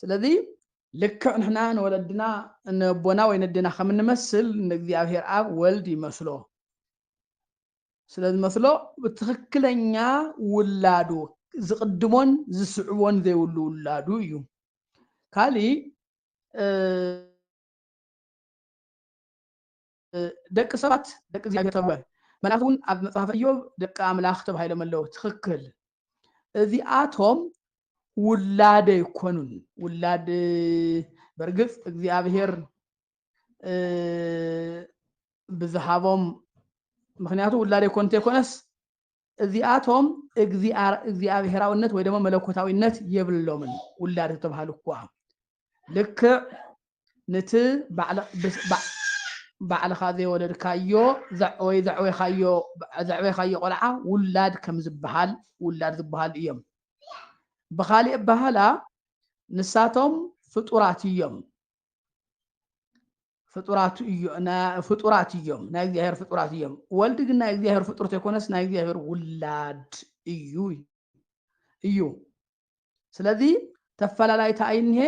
ስለዚ ልክዕ ንሕና ንወለድና ነቦና ወይ ነዴና ከም እንመስል ንእግዚኣብሔር ኣብ ወልድ ይመስሎ ስለ ዝመስሎ ብትኽክለኛ ውላዱ ዝቕድሞን ዝስዕቦን ዘይብሉ ውላዱ እዩ ካሊእ ደቂ ሰባት ደቂ እግዚኣብሔር ተብሃሉ መላእክት እውን ኣብ መጽሐፈ ኢዮብ ደቂ ኣምላኽ ተባሂሎም ኣለዉ ትኽክል እዚኣቶም ውላድ ኣይኮኑን ውላድ በርግጽ እግዚኣብሔር ብዝሃቦም ምክንያቱ ውላድ ኣይኮኑ እንተይኮነስ እዚኣቶም እግዚኣብሔራውነት ወይ ደሞ መለኮታዊነት የብሎምን ውላድ ተተብሃሉ እኳ ልክዕ ንቲ ባዕልኻ ዘይወለድካዮ ወይ ዘዕበኻዮ ቆልዓ ውላድ ከም ዝበሃል ውላድ ዝበሃሉ እዮም ብኻሊእ ኣባህላ ንሳቶም ፍጡራት እዮም ፍጡራት እዮ ናይ ፍጡራት እዮም ናይ እግዚኣብሔር ፍጡራት እዮም ወልድ ግን ናይ እግዚኣብሔር ፍጡር ተይኮነስ ናይ እግዚኣብሔር ውላድ እዩ እዩ ስለዚ ተፈላላይታ ኣይንሄ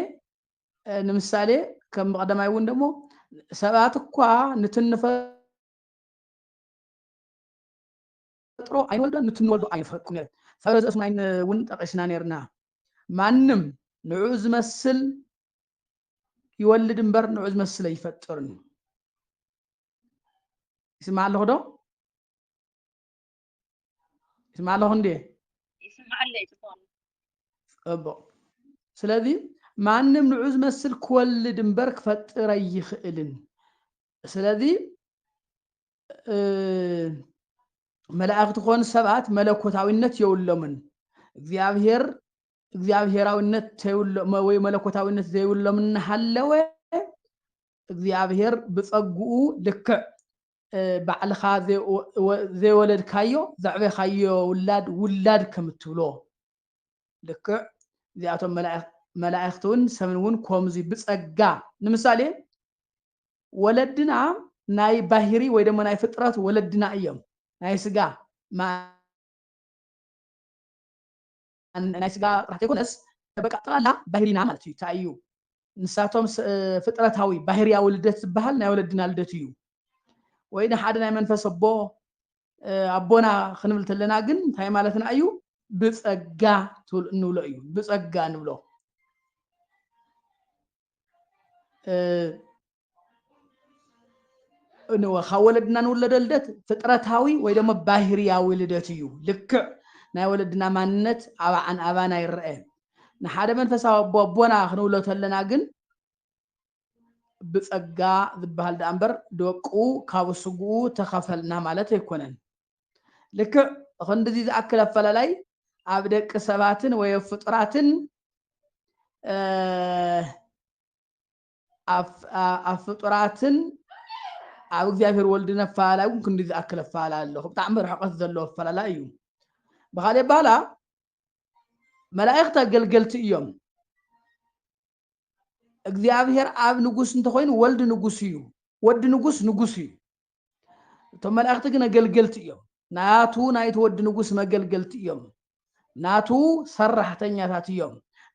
ንምሳሌ ከም ቀደማይ እውን ደግሞ ሰባት እኳ ንትንፈ ፈጥሮ ኣይንወልዶን ንቲ ንወልዶ ኣይንፈልጦን ነይሩ ጸረ ዘእሱ ናይን ውን ጠቂስና ነይርና ማንም ንዑኡ ዝመስል ይወልድ እምበር ንዑኡ ዝመስል ኣይፈጥርን እዩ ይስማዕ ኣለኹ ዶ ይስማዕ ኣለኹ እንዴ ይስምዓለይ ጽቡቅ ጽቡቅ ስለዚ ማንም ንዑ ዝመስል ክወልድ እምበር ክፈጥር ኣይኽእልን ስለዚ መላእክት ኮኑ ሰባት መለኮታዊነት የብሎምን እግዚኣብሔር እግዚኣብሔራዊነት ወይ መለኮታዊነት ዘይብሎም እናሃለወ እግዚኣብሔር ብፀጉኡ ልክዕ ባዕልኻ ዘይወለድካዮ ዘዕበኻዮ ውላድ ውላድ ከም እትብሎ ልክዕ እዚኣቶም መላእክቲ እውን ሰብን እውን ከምዚ ብፀጋ ንምሳሌ ወለድና ናይ ባህሪ ወይ ደሞ ናይ ፍጥረት ወለድና እዮም ናይ ስጋ ናይ ስጋ ጥራሕ ዘይኮነስ በቃ ጠቕላላ ባህሪና ማለት እዩ እንታይ እዩ ንሳቶም ፍጥረታዊ ባህርያዊ ልደት ዝበሃል ናይ ወለድና ልደት እዩ ወይ ንሓደ ናይ መንፈስ ኣቦ ኣቦና ክንብል ተለና ግን እንታይ ማለትና እዩ ብፀጋ እንብሎ እዩ ብፀጋ ንብሎ ካብ ወለድና ንውለዶ ልደት ፍጥረታዊ ወይ ደሞ ባህርያዊ ልደት እዩ ልክዕ ናይ ወለድና ማንነት ኣባዓን ኣባና ይረአ ንሓደ መንፈሳዊ ኣቦ ኣቦና ክንብሎ ተለና ግን ብጸጋ ዝበሃል ደኣ እምበር ደቁ ካብ ስግኡ ተኸፈልና ማለት ኣይኮነን። ልክዕ ኽንድዚ ዝኣክል ኣፈላላይ ኣብ ደቂ ሰባትን ወይ ኣብ ፍጡራትን ኣብ ፍጡራትን ኣብ እግዚኣብሔር ወልድን ኣፈላላይ እውን ክንዲ ዝኣክል ኣፈላላይ ኣሎ ብጣዕሚ ርሕቀት ዘለዎ ኣፈላላይ እዩ ብካልእ ኣባህላ መላእኽቲ ኣገልገልቲ እዮም እግዚኣብሔር ኣብ ንጉስ እንተኾይኑ ወልድ ንጉስ እዩ ወዲ ንጉስ ንጉስ እዩ እቶም መላእኽቲ ግን ኣገልገልቲ እዮም ናቱ ናይቲ ወዲ ንጉስ መገልገልቲ እዮም ናቱ ሰራሕተኛታት እዮም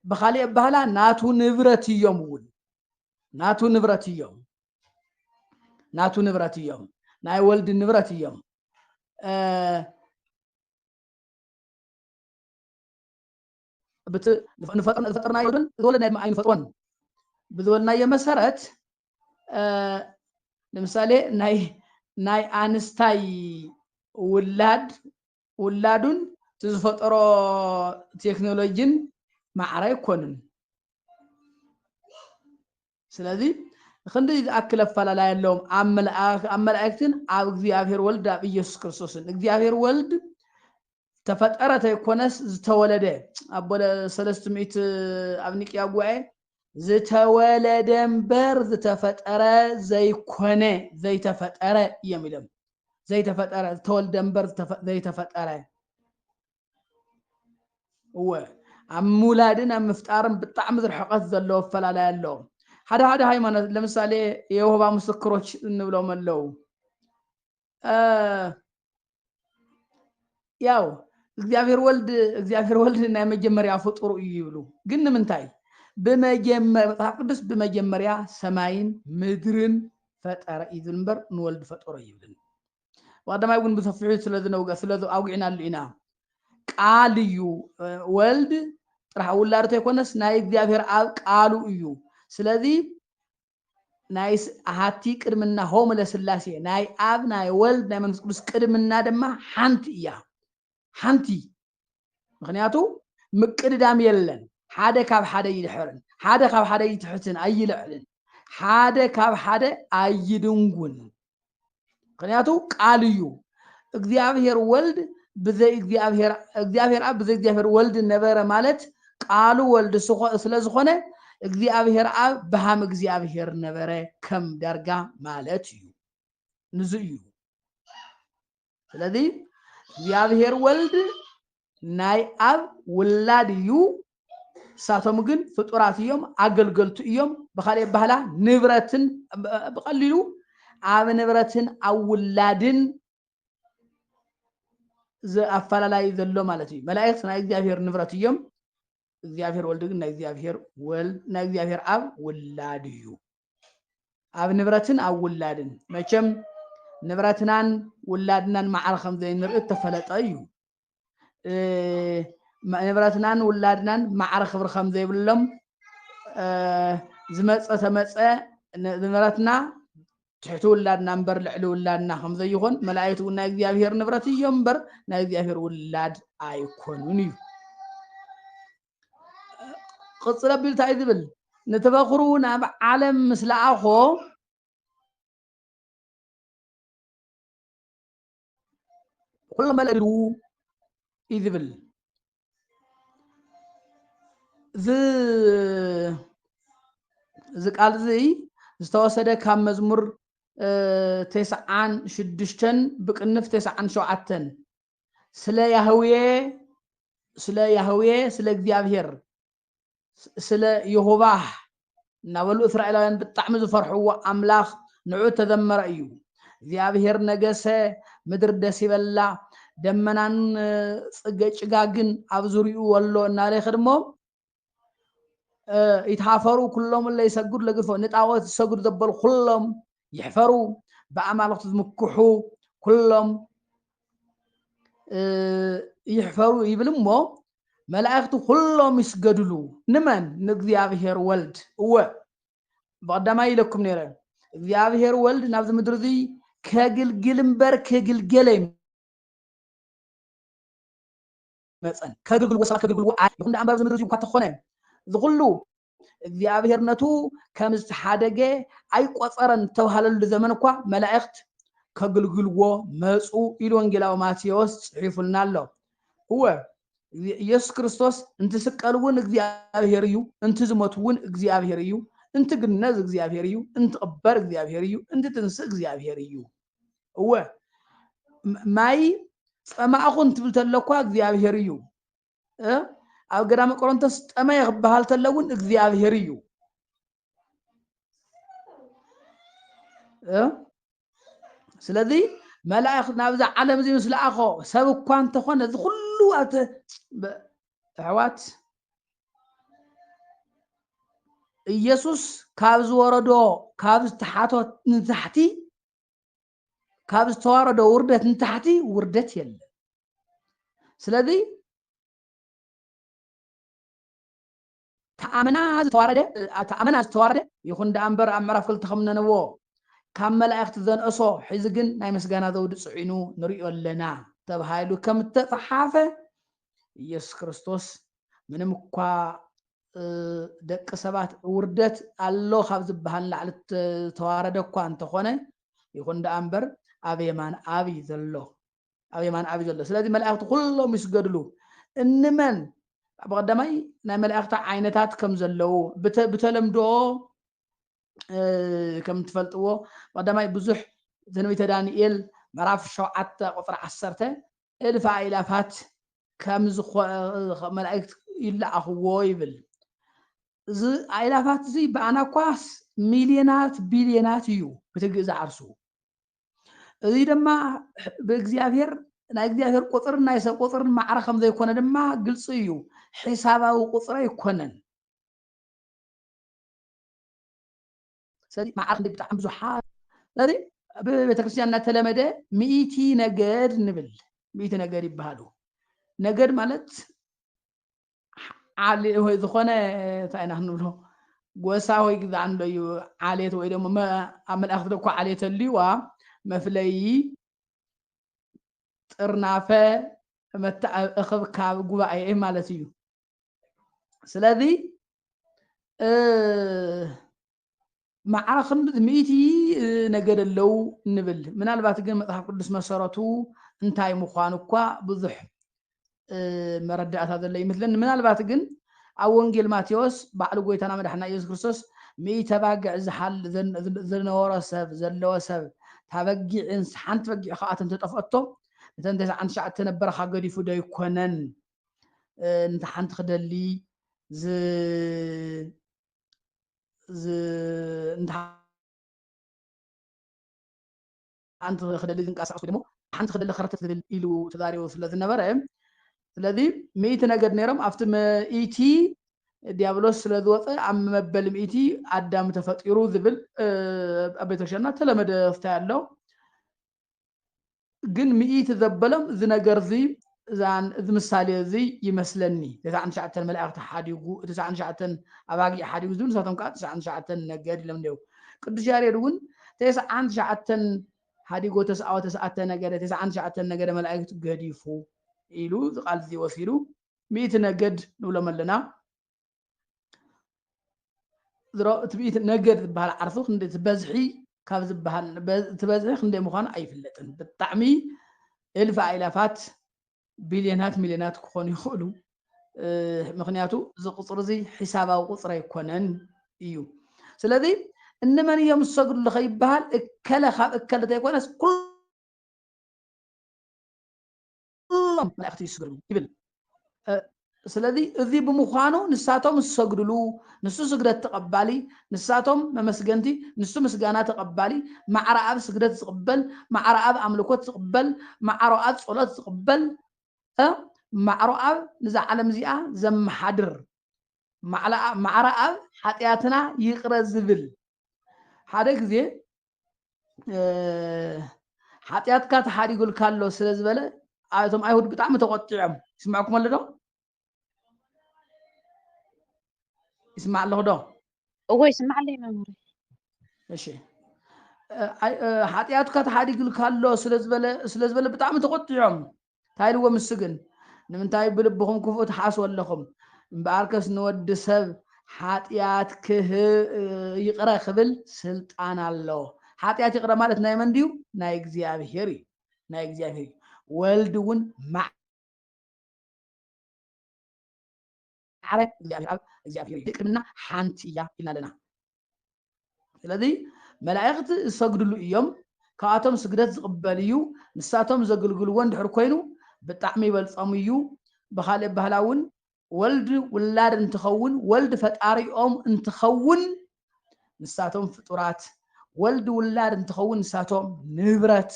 ብካሊእ ኣባህላ ናቱ ንብረት እዮም እውን ናቱ ንብረት እዮም ናቱ ንብረት እዮም ናይ ወልድ ንብረት እዮም ዝፈጠርናዮ ግን ዝወለድናዮ ድማ ኣይንፈጥሮን ብዝበልናዮ መሰረት ንምሳሌ ናይ ናይ ኣንስታይ ውላድ ውላዱን እቲ ዝፈጠሮ ቴክኖሎጂን ማዕረ ኣይኮንን ስለዚ ክንደይ ዝኣክል ኣፈላላይ ኣለዎም ኣብ መልኣክ ኣብ መላእክትን ኣብ እግዚኣብሔር ወልድ ኣብ ኢየሱስ ክርስቶስን እግዚኣብሔር ወልድ ተፈጠረ ተይኮነስ ዝተወለደ ኣብ ሰለስት ሚእት ኣብ ኒቅያ ጉባኤ ዝተወለደ እምበር ዝተፈጠረ ዘይኮነ ዘይተፈጠረ እዮም ኢሎም ዘይተፈጠረ ዝተወልደ እምበር ዘይተፈጠረ እወ ኣብ ምውላድን ኣብ ምፍጣርን ብጣዕሚ ዝርሕቀት ዘለዎ ኣፈላላይ ኣሎ ሓደ ሓደ ሃይማኖት ለምሳሌ የሆባ ምስክሮች እንብሎም ኣለው ያው እግዚኣብሔር ወልድ እግዚኣብሔር ወልድ ናይ መጀመርያ ፍጡሩ እዩ ይብሉ ግን ንምንታይ ብመጀመር መጽሓፍ ቅዱስ ብመጀመርያ ሰማይን ምድርን ፈጠረ እዩ ዝብል እምበር ንወልድ ፈጠሮ ይብልን ብቀዳማይ እውን ብሰፊሑ ስለዝነውገ ስለዚ ኣውጊዕናሉ ኢና ቃል እዩ ወልድ ጥራሕ ውላድ ተይኮነስ ናይ እግዚኣብሔር ኣብ ቃሉ እዩ ስለዚ ናይ ኣሃቲ ቅድምና ሆም ለስላሴ ናይ ኣብ ናይ ወልድ ናይ መንግስት ቅዱስ ቅድምና ድማ ሓንቲ እያ ሓንቲ ምክንያቱ ምቅድዳም የለን ሓደ ካብ ሓደ ይድሕርን ሓደ ካብ ሓደ ይትሕትን ኣይልዕልን ሓደ ካብ ሓደ ኣይድንጉን ምክንያቱ ቃል እዩ እግዚኣብሔር ወልድ ብዘይ እግዚኣብሔር እግዚኣብሔር ኣብ ብዘይ እግዚኣብሔር ወልድ ነበረ ማለት ቃሉ ወልድ ስለዝኾነ እግዚኣብሔር ኣብ ብሃም እግዚኣብሔር ነበረ ከም ዳርጋ ማለት እዩ ንዙ እዩ ስለዚ እግዚኣብሔር ወልድ ናይ ኣብ ውላድ እዩ ንሳቶም ግን ፍጡራት እዮም፣ ኣገልገልቱ እዮም። ብካልእ ኣባህላ ንብረትን ብቀሊሉ ኣብ ንብረትን ኣብ ውላድን ኣፈላላይ ዘሎ ማለት እዩ። መላእክት ናይ እግዚኣብሔር ንብረት እዮም። እግዚኣብሔር ወልድ ግን ናይ እግዚኣብሔር ወልድ ናይ እግዚኣብሔር ኣብ ውላድ እዩ። ኣብ ንብረትን ኣብ ውላድን መቸም ንብረትናን ውላድናን ማዕረ ከም ዘይንርኢ እተፈለጠ እዩ ንብረትናን ውላድናን ማዕረ ክብሪ ከም ዘይብሎም ዝመፀ ተመፀ ንብረትና ትሕቲ ውላድና እምበር ልዕሊ ውላድና ከም ዘይኮን መላእክት እውን ናይ እግዚኣብሄር ንብረት እዮም እምበር ናይ እግዚኣብሄር ውላድ ኣይኮኑን እዩ ቕፅል ኣቢሉ እንታይ ዝብል ንተበክሩ ናብ ዓለም ምስ ለኣኾ ኩሉ መለሉ እዩ ዝብል እዚ እዚ ቃል እዚ ዝተወሰደ ካብ መዝሙር ቴስዓን ሽዱሽተን ብቅንፍ ቴስዓን ሸውዓተን ስለ ያህዌ ስለ ያህዌ ስለ እግዚኣብሄር ስለ የሆባህ እናበሉ እስራኤላውያን ብጣዕሚ ዝፈርሕዎ ኣምላኽ ንዑ ተዘመረ እዩ እግዚኣብሔር ነገሰ ምድር ደስ ይበላ ደመናን ፅገ ጭጋግን ኣብ ዙሪኡ ወሎ እናለኸ ድሞ ይትሃፈሩ ኩሎም እለ ይሰግዱ ለግድፎ ንጣዖት ዝሰግዱ ዘበሉ ኩሎም ይሕፈሩ ብኣማልኽቱ ዝምክሑ ኩሎም ይሕፈሩ ይብል እሞ መላእክቲ ኩሎም ይስገድሉ ንመን ንእግዚኣብሄር ወልድ እወ ብቐዳማይ ኢለኩም ነይረ እግዚኣብሄር ወልድ ናብዚ ምድሪ እዚ ከግልግል እምበር ክግልገለ መጸን ከግግልዎ ሰባት ከግግልዎ ኣይ ይኹን ደኣ እምበር ኣብዚ ምድሪ እዚ እኳ ተኾነ ዝኹሉ እግዚኣብሔር ነቱ ከም ዝተሓደገ ኣይቆጸረን ዝተብሃለሉ ዘመን እኳ መላእክት ከግልግልዎ መጹ ኢሉ ወንጌላዊ ማቴዎስ ጽሒፉልና ኣሎ እወ ኢየሱስ ክርስቶስ እንትስቀል እውን እግዚኣብሔር እዩ እንትዝመት እውን እግዚኣብሔር እዩ እንትግነዝ እግዚኣብሔር እዩ እንትቕበር እግዚኣብሔር እዩ እንትትንስእ እግዚኣብሔር እዩ እወ ማይ ጸማእኹን ትብል ተለኳ እግዚኣብሔር እዩ ኣብ ገዳመ ቆሮንቶስ ጠመየ ክበሃል ተሎ እውን እግዚኣብሔር እዩ ስለዚ መላእኽት ናብዛ ዓለም እዚ ምስ ለኣኾ ሰብ እኳ እንተኾነ እዚ ኩሉ ኣብቲ ኣሕዋት ኢየሱስ ካብ ዝወረዶ ካብ ዝተሓቶ ንታሕቲ ካብ ዝተዋረዶ ውርደት ንታሕቲ ውርደት የለን ስለዚ ተኣምና ዝተዋረደ ተኣምና ዝተዋረደ ይኹን ደኣ እምበር ኣብ ምዕራፍ ክልተ ከም ነነዎ ካብ መላእኽቲ ዘንእሶ ሕዚ ግን ናይ ምስጋና ዘውዲ ጽዒኑ ንርእዮ ኣለና ተባሂሉ ከም እተጸሓፈ ኢየሱስ ክርስቶስ ምንም እኳ ደቂ ሰባት ውርደት ኣሎ ካብ ዝበሃል ንላዕሊ ዝተዋረደ እኳ እንተኾነ ይኹን ደኣ እምበር ኣብ የማን ኣብይ ዘሎ ኣብ የማን ኣብ ዘሎ ስለዚ መላእክቲ ኩሎም ይስገድሉ እንመን ብቀዳማይ ናይ መላእክቲ ዓይነታት ከም ዘለዉ ብተለምዶ ከም ትፈልጥዎ ቀዳማይ ብዙሕ ትንቢተ ዳንኤል ምዕራፍ ሸውዓተ ቁፅሪ ዓሰርተ እልፍ ኣኢላፋት ከም መላእክት ይለኣኽዎ ይብል እዚ ኣኢላፋት እዚ ብኣና ኳስ ሚልዮናት ቢልዮናት እዩ ብትግእ ዝዓርሱ እዚ ድማ ብእግዚኣብሔር ናይ እግዚኣብሔር ቁፅርን ናይ ሰብ ቁፅርን ማዕረ ከም ዘይኮነ ድማ ግልፂ እዩ ሒሳባዊ ቁፅሪ ኣይኮነን ስለዚ ማዕረ ክንደይ ብጣዕሚ ብዙሓት ስለዚ ብቤተክርስትያን እናተለመደ ሚእቲ ነገድ ንብል ሚእቲ ነገድ ይበሃሉ ነገድ ማለት ዓሌት ወይ ዝኾነ እንታይ ኢና ክንብሎ ጎሳ ወይ ግዛ ኣሎ እዩ ዓሌት ወይ ደሞ ኣብ መላእኽቲ ደኮ ዓሌት ኣልዋ መፍለዪ ጥርናፈ እኽብካብ ጉባኤ ማለት እዩ ስለዚ መዓረ ክንዲ ሚእቲ ነገድ ኣለው ንብል። ምናልባት ግን መጽሓፍ ቅዱስ መሰረቱ እንታይ ምዃኑ እኳ ብዙሕ መረዳእታ ዘሎ ይመስለኒ። ምናልባት ግን ኣብ ወንጌል ማቴዎስ ባዕሉ ጎይታና መድሓና ኢየሱስ ክርስቶስ ሚእተ ባግዕ ዝነበሮ ሰብ ዘለዎ ሰብ ታበጊዕን ሓንቲ በጊዕ ከዓ ተጠፍኦቶ እተን ተስዓን ትሽዓተ ነበረኻ ገዲፉ ዶ ኣይኮነን ነቲ ሓንቲ ክደሊ ሓንቲ ክደሊ ዝንቀሳቀስ ደግሞ ሓንቲ ክደሊ ከረተት ዝብል ኢሉ ተዛሪቡ ስለ ዝነበረ ስለዚ ሚእቲ ነገድ ነይሮም ኣብቲ ሚእቲ ዲያብሎስ ስለ ዝወፀ ኣብ መበል ሚእቲ ኣዳም ተፈጢሩ ዝብል ኣብ ቤተክርስትያንና ተለመደ ፍታይ ኣሎ ግን ምእቲ ዘበሎም እዚ ነገር እዚ እዛን እዚ ምሳሌ እዚ ይመስለኒ ተስዓን ትሽዓተን መላእኽቲ ሓዲጉ ተስዓን ትሽዓተን ኣባጊዕ ሓዲጉ ዝብል ንሳቶም ከዓ ተስዓን ትሽዓተን ነገድ ኢሎም እንዲው ቅዱስ ያሬድ እውን ተስዓን ትሽዓተን ሓዲጎ ተስኣወ ተስዓተ ነገደ ተስዓን ትሽዓተን ነገደ መላእክት ገዲፉ ኢሉ ዝቃል እዚ ወሲዱ ምእቲ ነገድ ንብሎም ኣለና ዝሮ ትብኢት ነገር ዝበሃል ዓርሱ ክንደይ ዝበዝሒ ካብ ዝበሃል ትበዝሒ ክንደይ ምዃኑ ኣይፍለጥን ብጣዕሚ እልፍ ኣይላፋት ቢልዮናት ሚልዮናት ክኾኑ ይኽእሉ ምክንያቱ እዚ ቁፅሪ እዚ ሒሳባዊ ቁፅሪ ኣይኮነን እዩ ስለዚ እንመን እዮም ዝሰግድሉ ከይበሃል እከለ ካብ እከለ ዘይኮነስ ኩሉ ኵሎም መላእኽቲ ይስገዱ ይብል። ስለዚ እዚ ብምዃኑ ንሳቶም ዝሰግድሉ፣ ንሱ ስግደት ተቐባሊ፣ ንሳቶም መመስገንቲ፣ ንሱ ምስጋና ተቐባሊ፣ ማዕረ ኣብ ስግደት ዝቕበል፣ ማዕረ ኣብ ኣምልኮት ዝቕበል፣ ማዕሮ ኣብ ጸሎት ዝቕበል፣ ማዕሮ ኣብ ንዛ ዓለም እዚኣ ዘመሓድር፣ ማዕረ ኣብ ሓጢኣትና ይቕረ ዝብል ሓደ ግዜ ሓጢኣትካ ተሓዲጉልካ ኣሎ ስለ ዝበለ እቶም ኣይሁድ ብጣዕሚ ተቆጢዖም ይስምዐኩም ኣሎ ዶ ይስማዕ ኣለኹ ዶ እዎ ይስማዕ ኣለይ መምህር እሺ ሓጢኣትካ ተሓዲጉልካ ኣሎ ስለ ዝበለ ብጣዕሚ ተቆጢዖም እንታይ ኢልዎም ንሱ ግን፣ ንምንታይ ብልብኹም ክፉእ ትሓስቡ ኣለኹም? እምበኣርከስ ንወዲ ሰብ ሓጢኣት ይቕረ ክብል ስልጣን ኣለዎ። ሓጢኣት ይቕረ ማለት ናይ መን ድዩ? ናይ እግዚኣብሄር እዩ። ናይ እግዚኣብሄር እዩ። ወልድ እውን ኣረ እግዚኣብሔር ኣብ እግዚኣብሔር እዩ ድቅድምና ሓንቲ እያ ኢልና ኣለና ስለዚ መላእክት ዝሰግድሉ እዮም ካብኣቶም ስግደት ዝቕበል እዩ ንሳቶም ዘግልግልዎ እንድሕር ኮይኑ ብጣዕሚ ይበልፆም እዩ ብካልእ ባህላ እውን ወልድ ውላድ እንትኸውን ወልድ ፈጣሪኦም እንትኸውን ንሳቶም ፍጡራት ወልድ ውላድ እንትኸውን ንሳቶም ንብረት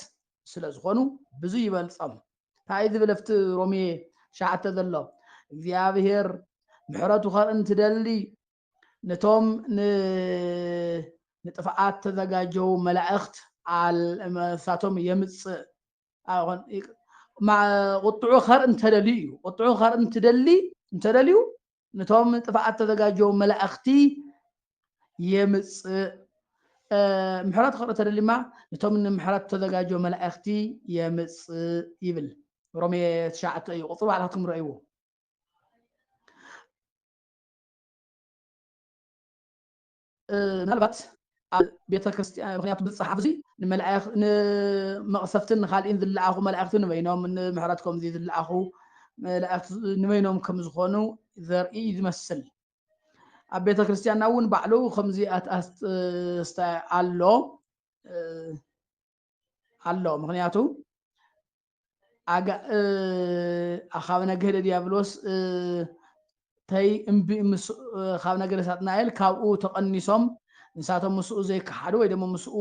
ስለ ዝኾኑ ብዙ ይበልፆም ታይ ዝብል ኣብቲ ሮሜ ትሽዓተ ዘሎ እግዚኣብሔር ምሕረቱ ከርኢ እንትደሊ ነቶም ንጥፍኣት ተዘጋጀው መላእኽት ንሳቶም የምፅእ ቁጥዑ ከርኢ እንተደልዩ እዩ ቁጥዑ ከርኢ እንትደሊ እንተደልዩ ንቶም ንጥፍኣት ተዘጋጀዉ መላእኽቲ የምጽእ ምሕረት ክቕሪ ተደሊማ ንቶም ንምሕረት ተዘጋጀ መላእኽቲ የምጽእ ይብል ሮሜ ትሽዓተ እዩ ቁፅሪ ባዕላትኩም ረእይዎ ምናልባት ኣብ ቤተ ክርስቲያን ምክንያቱ ብፅሓፍ እዚ ንመቕሰፍትን ንካልእን ዝለኣኹ መላእክቲ ንበይኖም ንምሕረት ከምዚ ዝለኣኹ መላእክቲ ንበይኖም ከም ዝኾኑ ዘርኢ ዝመስል ኣብ ቤተ ክርስቲያንና እውን ባዕሉ ከምዚ ኣስተ ኣሎ ኣሎ ምክንያቱ ካብ ነገደ ዲያብሎስ ተይ እምቢ ካብ ነገደ ሳጥናኤል ካብኡ ተቐኒሶም ንሳቶም ምስኡ ዘይከሓዱ ወይ ደሞ ምስኡ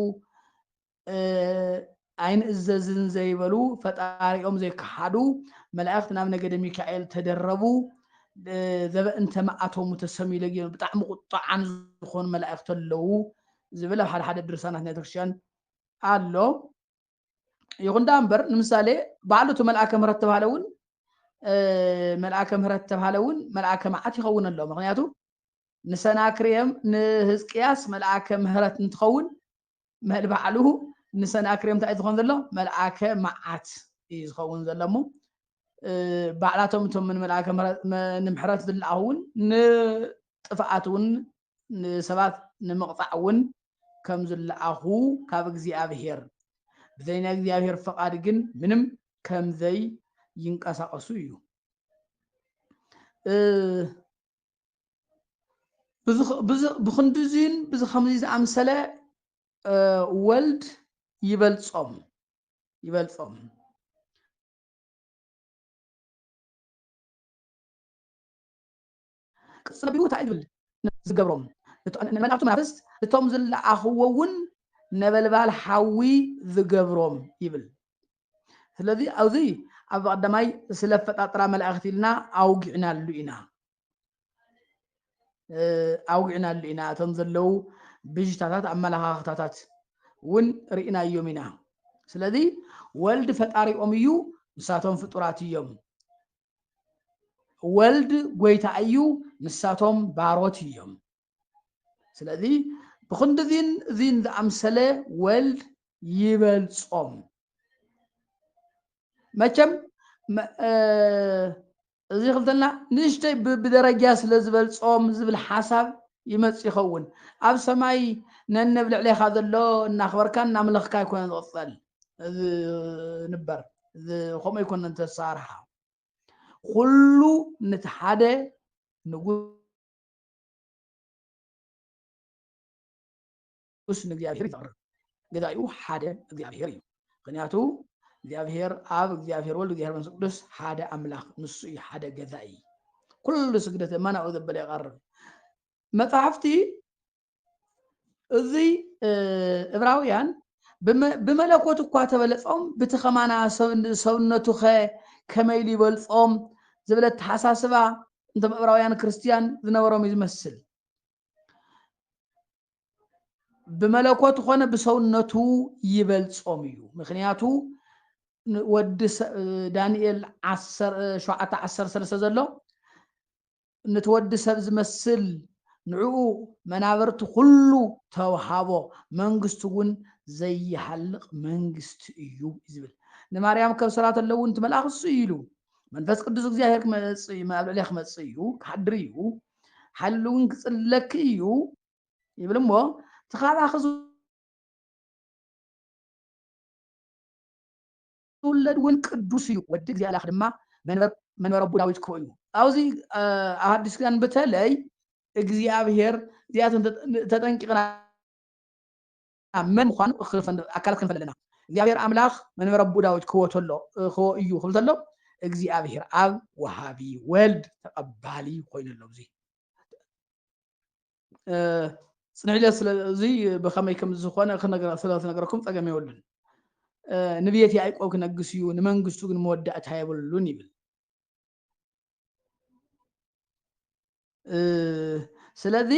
ኣይንእዘዝን ዘይበሉ ፈጣሪኦም ዘይከሓዱ መላእክት ናብ ነገደ ሚካኤል ተደረቡ ዘበእንተ መዓቶሙ ተሰሚዩ ለጊዮም ብጣዕሚ ቁጣዓን ዝኾኑ መላእክቲ ኣለዉ ዝብል ኣብ ሓደ ሓደ ድርሳናት ናይ ቤተክርስትያን ኣሎ ይኹን ደኣ እምበር ንምሳሌ ባዕሉ እቲ መልኣከ ምህረት ተባሃለ እውን መልኣከ ምህረት ተባሃለ እውን መልኣከ መዓት ይኸውን ኣሎ ምክንያቱ ንሰናክሬም ንህዝቅያስ መልኣከ ምህረት እንትኸውን መል ባዕሉ ንሰናክሬም እንታይ ዝኸውን ዘሎ መልኣከ መዓት እዩ ዝኸውን ዘሎ እሞ ባዕላቶም እቶም ንምልኣከ ንምሕረት ዝለኣኹ እውን ንጥፍኣት እውን ንሰባት ንምቕጻዕ እውን ከም ዝለኣኹ ካብ እግዚኣብሄር ብዘይ ናይ እግዚኣብሄር ፍቓድ ግን ምንም ከም ዘይንቀሳቐሱ እዩ። ብክንድዚን ብዚ ከምዚ ዝኣምሰለ ወልድ ይበልጾም ይበልጾም ቅጽል ኣቢሉ እንታይ እዩ ዝብል፣ ዝገብሮም ንመላእክቱ መናፍስት እቶም ዝለኣኽዎ እውን ነበልባል ሓዊ ዝገብሮም ይብል። ስለዚ ኣብዚ ኣብ ቀዳማይ ስለ ኣፈጣጥራ መላእክቲ ኢልና ኣውጊዕናሉ ኢና ኣውጊዕናሉ ኢና እቶም ዘለው ብዥታታት ኣመለኻኽታታት እውን ርኢናዮም ኢና። ስለዚ ወልድ ፈጣሪኦም እዩ፣ ንሳቶም ፍጡራት እዮም። ወልድ ጎይታ እዩ ንሳቶም ባሮት እዮም ስለዚ ብክንዲ እዚን እዚን ዝኣምሰለ ወልድ ይበልጾም መቸም እዚ ክልተና ንእሽተይ ብደረጃ ስለ ዝበልጾም ዝብል ሓሳብ ይመጽእ ይኸውን ኣብ ሰማይ ነንብ ልዕሌኻ ዘሎ እናኽበርካ እናምለኽካ ኣይኮነን ዝቕጸል ዝንበር ከምኡ ይኮነ ተሳርሓ ኩሉ ነቲ ሓደ ንጉስ ንእግዚኣብሔር ይፈቅር ገዛኡ ሓደ እግዚኣብሔር እዩ ምክንያቱ እግዚኣብሔር ኣብ እግዚኣብሔር ወልድ እግዚኣብሔር መንፈስ ቅዱስ ሓደ ኣምላኽ ንሱ እዩ ሓደ ገዛኢ ኩሉ ስግደት እመናኡ ዘበለ ይቐርብ መፅሓፍቲ እዚ እብራውያን ብመለኮት እኳ ተበለጾም ብቲ ከማና ሰብነቱኸ ከመይ ኢሉ ይበልጾም ዝብል ኣተሓሳስባ እንቶም እብራውያን ክርስትያን ዝነበሮም እዩ ዝመስል ብመለኮት ኾነ ብሰውነቱ ይበልጾም እዩ ምክንያቱ ወዲ ዳንኤል ሸውዓተ ዓሰርተ ሰለስተ ዘሎ ንቲ ወዲ ሰብ ዝመስል ንዕኡ መናብርቲ ኩሉ ተውሃቦ መንግስቱ ውን ዘይሃልቅ መንግስቲ እዩ ዝብል ንማርያም ከብ ሰላት ኣለዉ ንቲ መልኣኽ እሱ እዩ ኢሉ መንፈስ ቅዱስ እግዚኣብሔር ክመጽእ እዩ ኣብ ልዕሊያ ክመጽእ እዩ ክሓድር እዩ ሓይሉ ውን ክጽለኪ እዩ ይብል እሞ እቲ ካባኺ ዝውለድ እውን ቅዱስ እዩ፣ ወዲ እግዚእ ኣላክ ድማ መንበር ኣቦ ዳዊት ክኮን እዩ። ኣብዚ ኣብ ሓዲስ ኪዳን ብተለይ እግዚኣብሔር እዚኣተን ተጠንቂቅና መን ምኳኑ ኣካላት ክንፈልጥ ኣለና። እግዚኣብሔር ኣምላክ መንበር ኣቦ ዳዊት ክዎ ተሎ ክዎ እዩ ክብል ተሎ እግዚኣብሔር ኣብ ወሃቢ ወልድ ተቀባሊ ኮይኑ ኣሎ። እዚ ፅንዕለት ስለዙይ ብከመይ ከም ዝኾነ ስለትነገረኩም ፀገም የብሉን ንብየት ያዕቆብ ክነግስ እዩ ንመንግስቱ ግን መወዳእታ የብሉን ይብል ስለዚ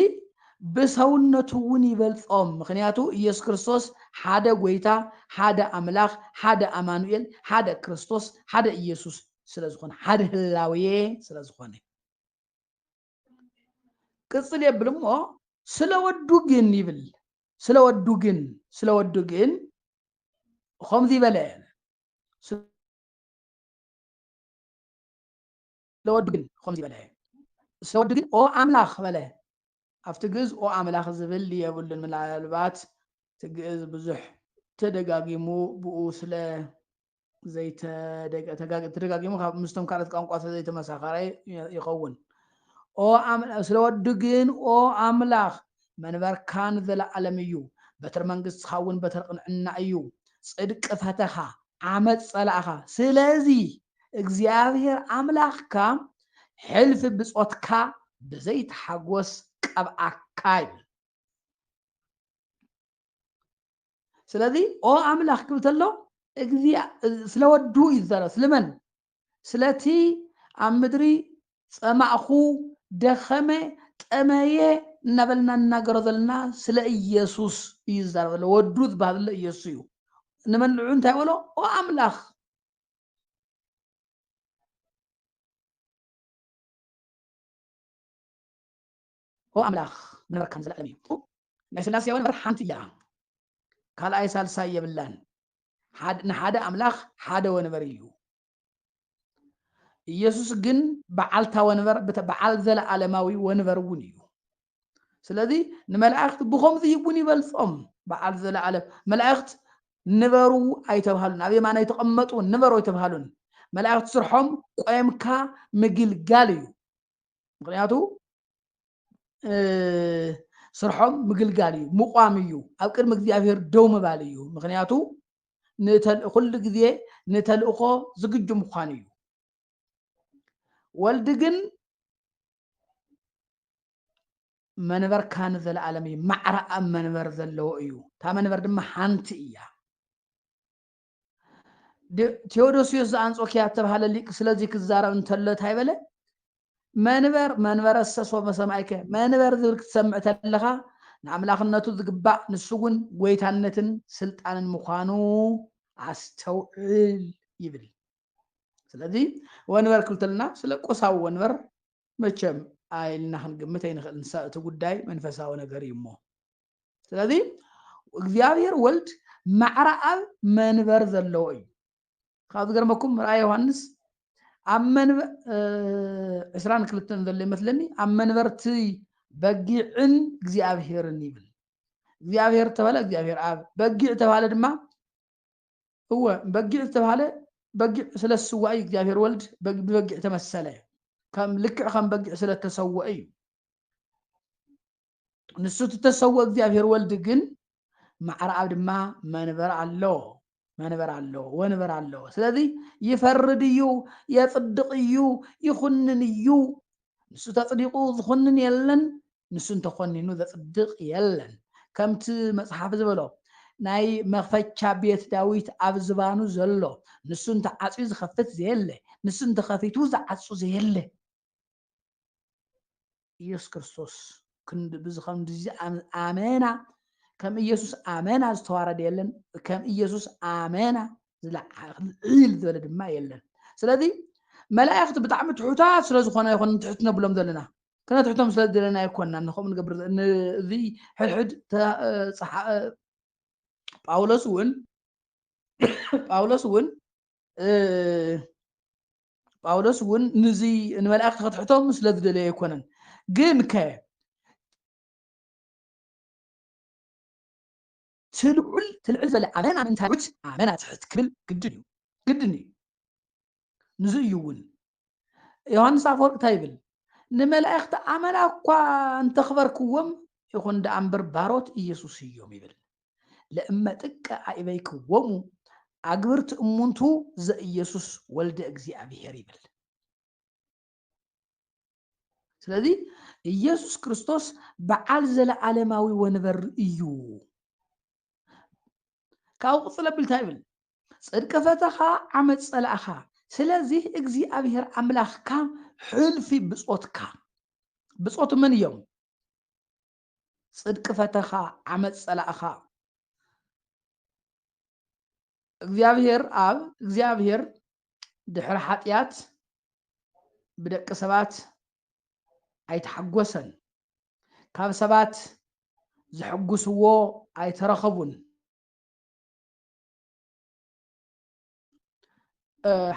ብሰውነቱ እውን ይበልፆም ምክንያቱ ኢየሱስ ክርስቶስ ሓደ ጎይታ ሓደ ኣምላኽ ሓደ ኣማኑኤል ሓደ ክርስቶስ ሓደ ኢየሱስ ስለዝኾነ ሓደ ህላዌ ስለዝኾነ ቅጽል የብል እሞ ስለ ወዱ ግን ይብል ስለ ወዱ ግን ስለ ወዱ ግን ከምዚ በለ ስለ ወዱ ግን ከምዚ በለ ስለ ወዱ ግን ኦ ኣምላኽ በለ ኣብቲ ግእዝ ኦ ኣምላኽ ዝብል የብሉን ምናልባት እቲ ግእዝ ብዙሕ ተደጋጊሙ ብኡ ስለ ተደጋጊሙ ካብ ምስቶም ካልኦት ቋንቋ ስለዘይተመሳኸረ ይኸውን ኦ ስለ ወዱ ግን ኦ ኣምላኽ መንበርካ ንዘለኣለም እዩ በትሪ መንግስትኻ እውን በትሪ ቅንዕና እዩ ጽድቂ ፈተኻ ዓመፅ ጸላእኻ ስለዚ እግዚኣብሔር ኣምላኽካ ሕልፊ ብጾትካ ብዘይተሓጎስ ቀብኣካ ይብል ስለዚ ኦ ኣምላኽ ክብል ተሎ እግዚኣ ስለ ወዱ እዩ ዝዛረብ ስለመን ስለቲ ኣብ ምድሪ ጸማእኹ ደኸመ ጠመየ እናበልና እናገሮ ዘለና ስለ ኢየሱስ እዩ ዝዛረብ ዘሎ ወዱ ዝበሃል ዘሎ ኢየሱስ እዩ ንመልዑ እንታይ በሎ ኦ ኣምላኽ ኦ ኣምላኽ ንበረካ ንዘለኣለም እዩ። ናይ ስላሴ ኣወን እምበር ሓንቲ እያ ካልኣይ ሳልሳይ የብላን ንሓደ ኣምላኽ ሓደ ወንበር እዩ ኢየሱስ ግን በዓልታ ወንበር በዓል ዘለኣለማዊ ወንበር እውን እዩ ስለዚ ንመላእክት ብከምዚ እውን ይበልፆም በዓል ዘለኣለም መላእክት ንበሩ ኣይተብሃሉን ኣብ የማናይ ተቐመጡ ንበሩ ኣይተብሃሉን መላእክት ስርሖም ቆምካ ምግልጋል እዩ ምክንያቱ ስርሖም ምግልጋል እዩ ምቋም እዩ ኣብ ቅድሚ እግዚኣብሄር ደው ምባል እዩ ምክንያቱ ኩሉ ግዜ ንተልእኮ ዝግጁ ምኳን እዩ ወልድ ግን መንበርካ ንዘለኣለም እዩ ማዕረ ኣብ መንበር ዘለዎ እዩ እታ መንበር ድማ ሓንቲ እያ ቴዎዶስዮስ ዘኣንጾኪያ ዝተባሃለ ሊቅ ስለዚ ክዛረብ እንተሎ እንታይ በለ መንበር መንበረ ሰሶ መሰማይከ መንበር ዝብል ክትሰምዕ ተለኻ ንኣምላኽነቱ ዝግባእ ንሱ እውን ጎይታነትን ስልጣንን ምዃኑ ኣስተውዕል ይብል ስለዚ ወንበር ክልተልና ስለ ቁሳዊ ወንበር መቸም ኣይልና ክንግምት ኣይንኽእልን እቲ ጉዳይ መንፈሳዊ ነገር እዩ እሞ ስለዚ እግዚኣብሔር ወልድ ማዕረ ኣብ መንበር ዘለዎ እዩ ካብ ዝገርመኩም ራእይ ዮሃንስ ኣብ መንበር ዕስራን ክልተን ዘሎ ይመስለኒ ኣብ መንበርቲ በጊዕን እግዚኣብሔርን ይብል እግዚኣብሔር ተባለ እግዚኣብሔር ኣብ በጊዕ ተባለ ድማ እወ በጊዕ ዝተባሃለ በጊዕ ስለ ዝስዋእ እዩ እግዚኣብሔር ወልድ ብበጊዕ ተመሰለ ከም ልክዕ ከም በጊዕ ስለተሰወአ እዩ ንሱ እቲ እተሰውኦ እግዚኣብሄር ወልድ ግን ማዕረ ኣብ ድማ መንበር ኣለዎ መንበር ኣለዎ ወንበር ኣለዎ ስለዚ ይፈርድ እዩ የፅድቕ እዩ ይኹንን እዩ ንሱ ተፅዲቑ ዝኹንን የለን ንሱ እንተኾኒኑ ዘፅድቕ የለን ከምቲ መፅሓፍ ዝበሎ ናይ መኽፈቻ ቤት ዳዊት ኣብ ዝባኑ ዘሎ ንሱ እንተዓፅዩ ዝኸፍት ዘየለ ንሱ እንተኸፊቱ ዝዓፁ ዘየለ ኢየሱስ ክርስቶስ ከምዚ ኣመና ከም ኢየሱስ ኣመና ዝተዋረደ የለን ከም ኢየሱስ ኣመና ዝለዓል ዝበለ ድማ የለን ስለዚ መላእኽቲ ብጣዕሚ ትሑታት ስለ ዝኾነ ይኹን ትሕት ነብሎም ዘለና ከነትሕቶም ስለ ዘለና ይኮንና ንከምኡ ንገብር እዚ ሕድሕድ ጳውሎስ እውን ጳውሎስ እውን ጳውሎስ እውን ንዙ ንመላእክቲ ከትሕቶም ስለ ዝደለየ ኣይኮነን ግን ከ ትልዑል ትልዕል ዘለ ኣመና ምንታይት ኣመና ትሕት ክብል ግድን እዩ ግድን እዩ ንዙ እዩ እውን ዮሃንስ ኣፈወርቅ እንታይ ይብል ንመላእክቲ ኣመና እኳ እንተኽበርክዎም ይኹን ደኣ እምበር ባሮት ኢየሱስ እዮም ይብል ለእመ ጥቀ አኢበይክዎሙ አግብርት እሙንቱ ዘኢየሱስ ወልደ እግዚኣብሔር ይብል። ስለዚ ኢየሱስ ክርስቶስ በዓል ዘለዓለማዊ ወንበር እዩ ካብኡ ቅፅል ኣቢልታ ይብል ፅድቂ ፈተኻ ዓመፅ ፀላእኻ ስለዚ እግዚኣብሔር ኣምላኽካ ሕልፊ ብፆትካ ብፆት መን እዮም ጽድቂ ፈተኻ ዓመጽ ጸላእኻ። እግዚኣብሔር ኣብ እግዚኣብሔር ድሕሪ ሓጢኣት ብደቂ ሰባት ኣይተሓጎሰን ካብ ሰባት ዘሐጉስዎ ኣይተረኸቡን።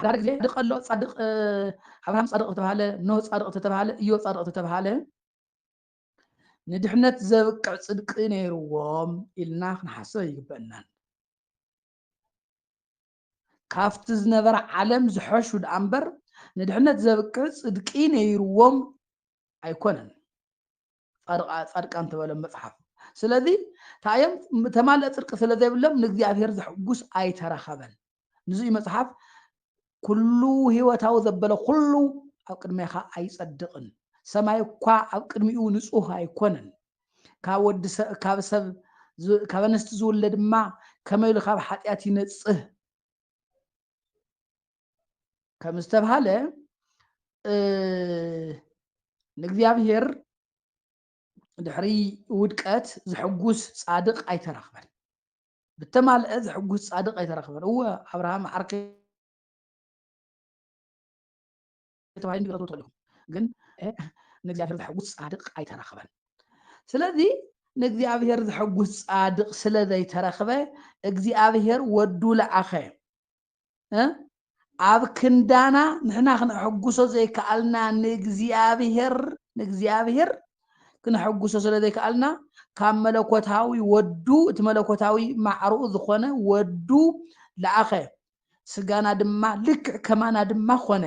ሓደ ግዜ ድቀ ኣሎ ፃድቅ ኣብርሃም ፃድቅ ተባሃለ ኖህ ፃድቅ ተባሃለ እዮ ፃድቅ ተባሃለ ንድሕነት ዘብቅዕ ጽድቂ ነይርዎም ኢልና ክንሓስብ ኣይግበእናን። ካብቲ ዝነበረ ዓለም ዝሐሹ ደኣ እምበር ንድሕነት ዘብቅዕ ጽድቂ ነይርዎም ኣይኮነን ጻድቃን ተበሎም መጽሓፍ ስለዚ ታዮም ተማልእ ጽድቂ ስለ ዘይብሎም ንእግዚኣብሔር ዘሕጉስ ኣይተረኸበን ንዙይ መጽሓፍ ኩሉ ህይወታዊ ዘበለ ኩሉ ኣብ ቅድሜኻ ኣይጸድቕን ሰማይ እኳ ኣብ ቅድሚኡ ንጹህ ኣይኮነን ካብ ወዲ ካብ ሰብ ካብ ኣንስቲ ዝውለ ድማ ከመይ ኢሉ ካብ ሓጢኣት ይነጽህ ከም ዝተብሃለ ንእግዚኣብሄር ድሕሪ ውድቀት ዝሕጉስ ጻድቕ ኣይተረኽበን ብተማልኤ ዘሕጉስ ጻድቕ ኣይተረኽበን። እወ፣ ኣብርሃም ዓርከይ ተባሂሉ ክተትዎ ትኽእሉ ኢኹም፣ ግን ንእግዚኣብሄር ዘሕጉስ ጻድቕ ኣይተረኽበን። ስለዚ ንእግዚኣብሄር ዘሕጉስ ጻድቕ ስለ ዘይተረኽበ እግዚኣብሄር ወዱ ለኣኸ። እ ኣብ ክንዳና ንሕና ክነሐጉሶ ዘይከኣልና ንእግዚኣብሄር ንእግዚኣብሄር ክነሐጉሶ ስለ ዘይከኣልና ካብ መለኮታዊ ወዱ እቲ መለኮታዊ ማዕርኡ ዝኾነ ወዱ ለኣኸ ስጋና ድማ ልክዕ ከማና ድማ ኮነ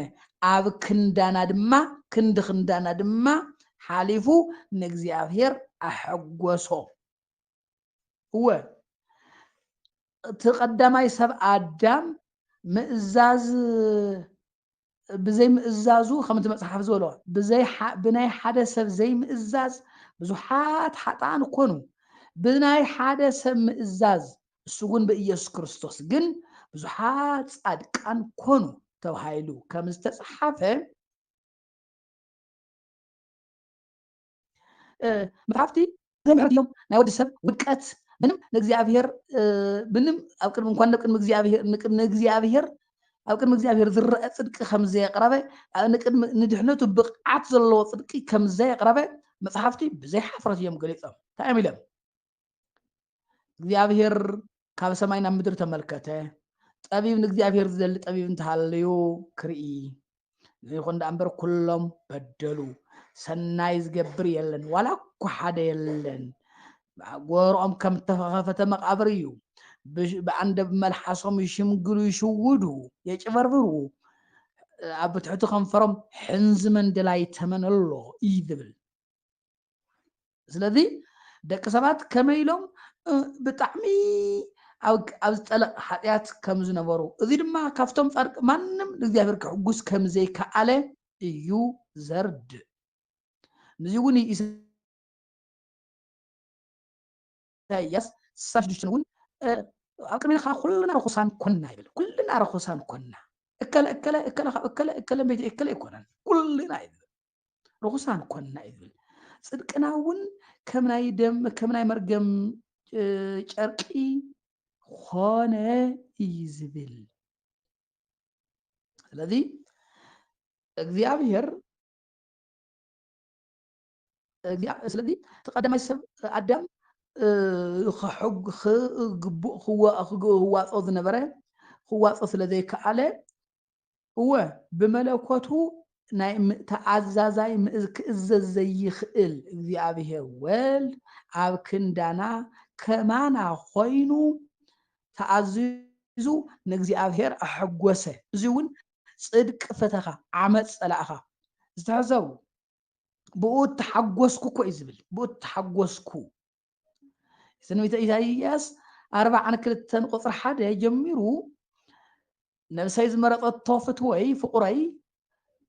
ኣብ ክንዳና ድማ ክንዲ ክንዳና ድማ ሓሊፉ ንእግዚኣብሄር ኣሐጎሶ እወ እቲ ቀዳማይ ሰብ ኣዳም ምእዛዝ ብዘይ ምእዛዙ ከምቲ መጽሓፍ ዝበሎ ብናይ ሓደ ሰብ ዘይምእዛዝ ብዙሓት ሓጥኣን ኮኑ ብናይ ሓደ ሰብ ምእዛዝ እሱ እውን ብኢየሱስ ክርስቶስ ግን ብዙሓት ጻድቃን ኮኑ ተባሂሉ ከም ዝተጽሓፈ መጽሓፍቲ ዘይምሕረት እዮም ናይ ወዲ ሰብ ውድቀት ምንም ንእግዚኣብሄር ምንም ኣብ ቅድሚ እንኳን ንቅድሚ እግዚኣብሄር ንቅድሚ እግዚኣብሄር ኣብ ቅድሚ እግዚኣብሄር ዝረአ ፅድቂ ከም ዘየቕረበ ንቅድሚ ንድሕነቱ ብቕዓት ዘለዎ ፅድቂ ከም ዘየቕረበ መፅሓፍቲ ብዘይ ሓፍረት እዮም ገሊፆም እንታይ እዮም ኢሎም እግዚኣብሔር ካብ ሰማይ ናብ ምድሪ ተመልከተ ጠቢብ ንእግዚኣብሔር ዝደሊ ጠቢብ እንተሃለዩ ክርኢ ይኹን ደኣ እምበር ኩሎም በደሉ ሰናይ ዝገብር የለን ዋላ እኳ ሓደ የለን ጎሮኦም ከም ተኸፈተ መቃብር እዩ ብኣንደብ መልሓሶም ይሽምግሉ ይሽውዱ የጭበርብሩ ኣብ ትሕቲ ከንፈሮም ሕንዚ መንደላይ ተመን ኣሎ እዩ ዝብል ስለዚ ደቂ ሰባት ከመይ ኢሎም ብጣዕሚ ኣብ ዝጠለቕ ሓጢኣት ከም ዝነበሩ እዚ ድማ ካብቶም ጻድቅ ማንም ንእግዚኣብሔር ክሕጉስ ከም ዘይከኣለ እዩ ዘርድእ ንዚ እውን ኢሳያስ ስሳ ሽዱሽተ እውን ኣብ ቅድሜኻ ኩልና ርኹሳን ኮና ይብል ኩልና ርኹሳን ኮና እከለ እከለ እከለ ካብ እከለ እከለ ቤት እከለ ኣይኮነን ኩልና ይብል ርኹሳን ኮንና እዩ ዝብል ፅድቅና እውን ከም ናይ ደም ከም ናይ መርገም ጨርቂ ኮነ እዩ ዝብል ስለዚ እግዚኣብሔር ስለዚ እቲ ቀዳማይ ሰብ ኣዳም ክግቡእ ክዋፆ ዝነበረ ክዋፆ ስለ ዘይከኣለ እወ ብመለኮቱ ናይ ተኣዛዛይ ምእዝ ክእዘዝ ዘይኽእል እግዚኣብሔር ወልድ ኣብ ክንዳና ከማና ኮይኑ ተኣዚዙ ንእግዚኣብሔር ኣሐጎሰ እዚውን ጽድቅ ፈተኻ ዓመጽ ጸላእኻ ዝተሐሰቡ ብኡ ተሓጎስኩ እኮ እዩ ዝብል ብኡ ተሓጎስኩ ትንቢተ ኢሳይያስ ኣርባዓን ክልተን ቁፅሪ ሓደ ጀሚሩ ነብሰይ ዝመረፀቶ ፍትወይ ፍቑረይ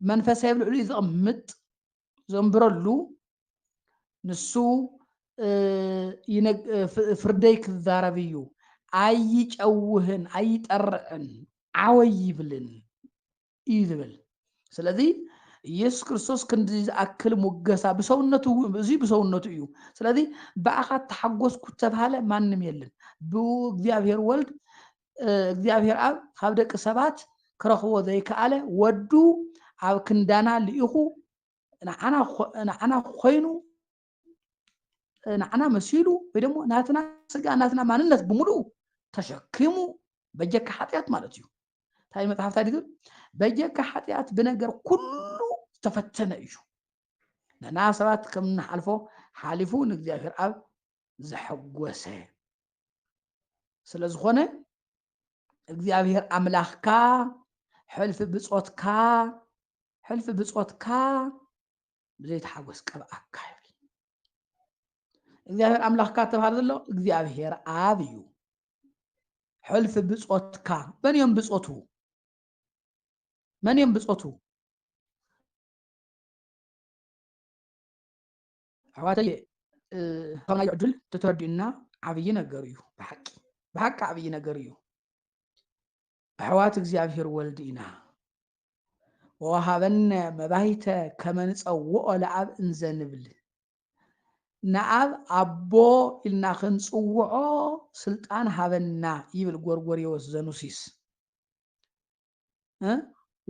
መንፈሰይ ኣብ ልዕሊኡ ዘቕምጥ ዘንብረሉ ንሱ ፍርደይ ክዛረብ እዩ ኣይጨውህን ኣይጠርዕን ዓወይ ይብልን እዩ ዝብል ስለዚ ኢየሱስ ክርስቶስ ክንዲ ዝኣክል ሙገሳ ብሰውነቱ እዚ ብሰውነቱ እዩ ስለዚ ብኣኻ ተሓጎስኩ ተብሃለ ማንም የለን ብኡ እግዚኣብሔር ወልድ እግዚኣብሔር ኣብ ካብ ደቂ ሰባት ክረኽቦ ዘይከኣለ ወዱ ኣብ ክንዳና ልኢኹ ንዓና ኮይኑ ንዓና መሲሉ ወይ ደሞ ናትና ስጋ ናትና ማንነት ብምሉኡ ተሸኪሙ በጀካ ሓጢኣት ማለት እዩ እንታይ መፅሓፍ እንታይ ድግር በጀካ ሓጢኣት ብነገር ኩሉ ዝተፈተነ እዩ ንና ሰባት ከም ንሓልፎ ሓሊፉ ንእግዚኣብሔር ኣብ ዘሐጎሰ ስለ ዝኾነ እግዚኣብሔር ኣምላኽካ ሕልፊ ብፆትካ ሕልፊ ብፆትካ ብዘይተሓጎስ ቀብኣካ ይብል እግዚኣብሔር ኣምላኽካ ተባሃር ዘሎ እግዚኣብሔር ኣብ እዩ ሕልፊ ብፆትካ መን እዮም ብፆቱ መን እዮም ብፆቱ ኣሕዋተየ ናይ ዕድል ተተረዲኡና ዓብዪ ነገር እዩ ብሓቂ ብሓቂ ዓብዪ ነገር እዩ ኣሕዋት እግዚኣብሔር ወልድ ኢና ወወሃበነ መባይተ ከመ ንጸውኦ ለኣብ እንዘ ንብል ንኣብ ኣቦ ኢልና ክንጽውዖ ስልጣን ሃበና ይብል ጎርጎርዮስ ዘኑሲስ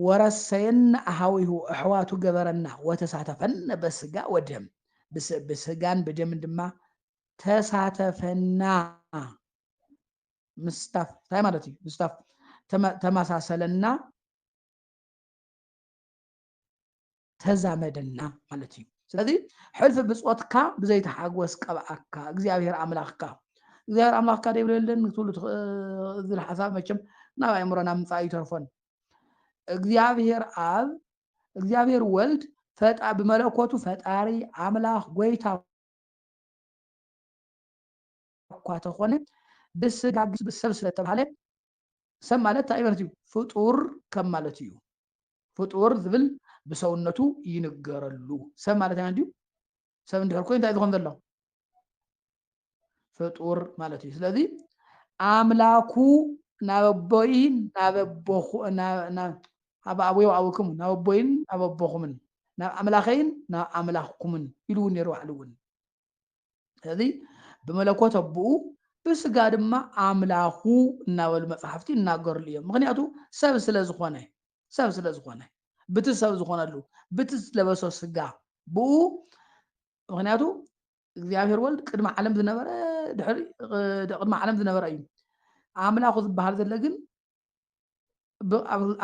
ወረሰየነ ኣሃዊሁ ኣሕዋቱ ገበረና ወተሳተፈነ በስጋ ወደም ብስጋን ብደምን ድማ ተሳተፈና ምስታፍ እንታይ ማለት እዩ ምስታፍ ተመሳሰለና ተዛመደና ማለት እዩ ስለዚ ሕልፊ ብፆትካ ብዘይተሓጎስ ቀብኣካ እግዚኣብሔር ኣምላኽካ እግዚኣብሔር ኣምላኽካ ደይብለልን ክትብሉ ዝብል ሓሳብ መቸም ናብ ኣእምሮና ምፃእ ይተርፎን እግዚኣብሔር ኣብ እግዚኣብሔር ወልድ ብመለኮቱ ፈጣሪ ኣምላኽ ጎይታ እኳ ተኾነ ብስጋ ብሰብ ስለ እተባህለ ሰብ ማለት እንታይ ማለት እዩ? ፍጡር ከም ማለት እዩ። ፍጡር ዝብል ብሰውነቱ ይንገረሉ። ሰብ ማለት ኣይ እንድዩ? ሰብ እንድሕር ኮይኑ እንታይ ዝኾን ዘሎ? ፍጡር ማለት እዩ። ስለዚ ኣምላኩ ናብ ኣቦይ ናብ ኣቦኹ ናብ- ናብ- ኣብ ኣቡየ ወኣቡክሙ ናብ ኣቦይን ናብ ኣቦኹምን ናብ ኣምላኸይን ናብ ኣምላኽኩምን ኢሉ እውን ነይሩ ባዕሉ እውን ስለዚ ብመለኮት ኣቦኡ ብስጋ ድማ ኣምላኹ እናበሉ መፅሓፍቲ ይናገርሉ እዮም ምክንያቱ ሰብ ስለዝኾነ ሰብ ስለዝኾነ ብቲ ሰብ ዝኾነሉ ብቲ ዝለበሶ ስጋ ብኡ ምክንያቱ እግዚኣብሔር ወልድ ቅድሚ ዓለም ዝነበረ ድሕሪ ቅድሚ ዓለም ዝነበረ እዩ ኣምላኹ ዝበሃል ዘሎ ግን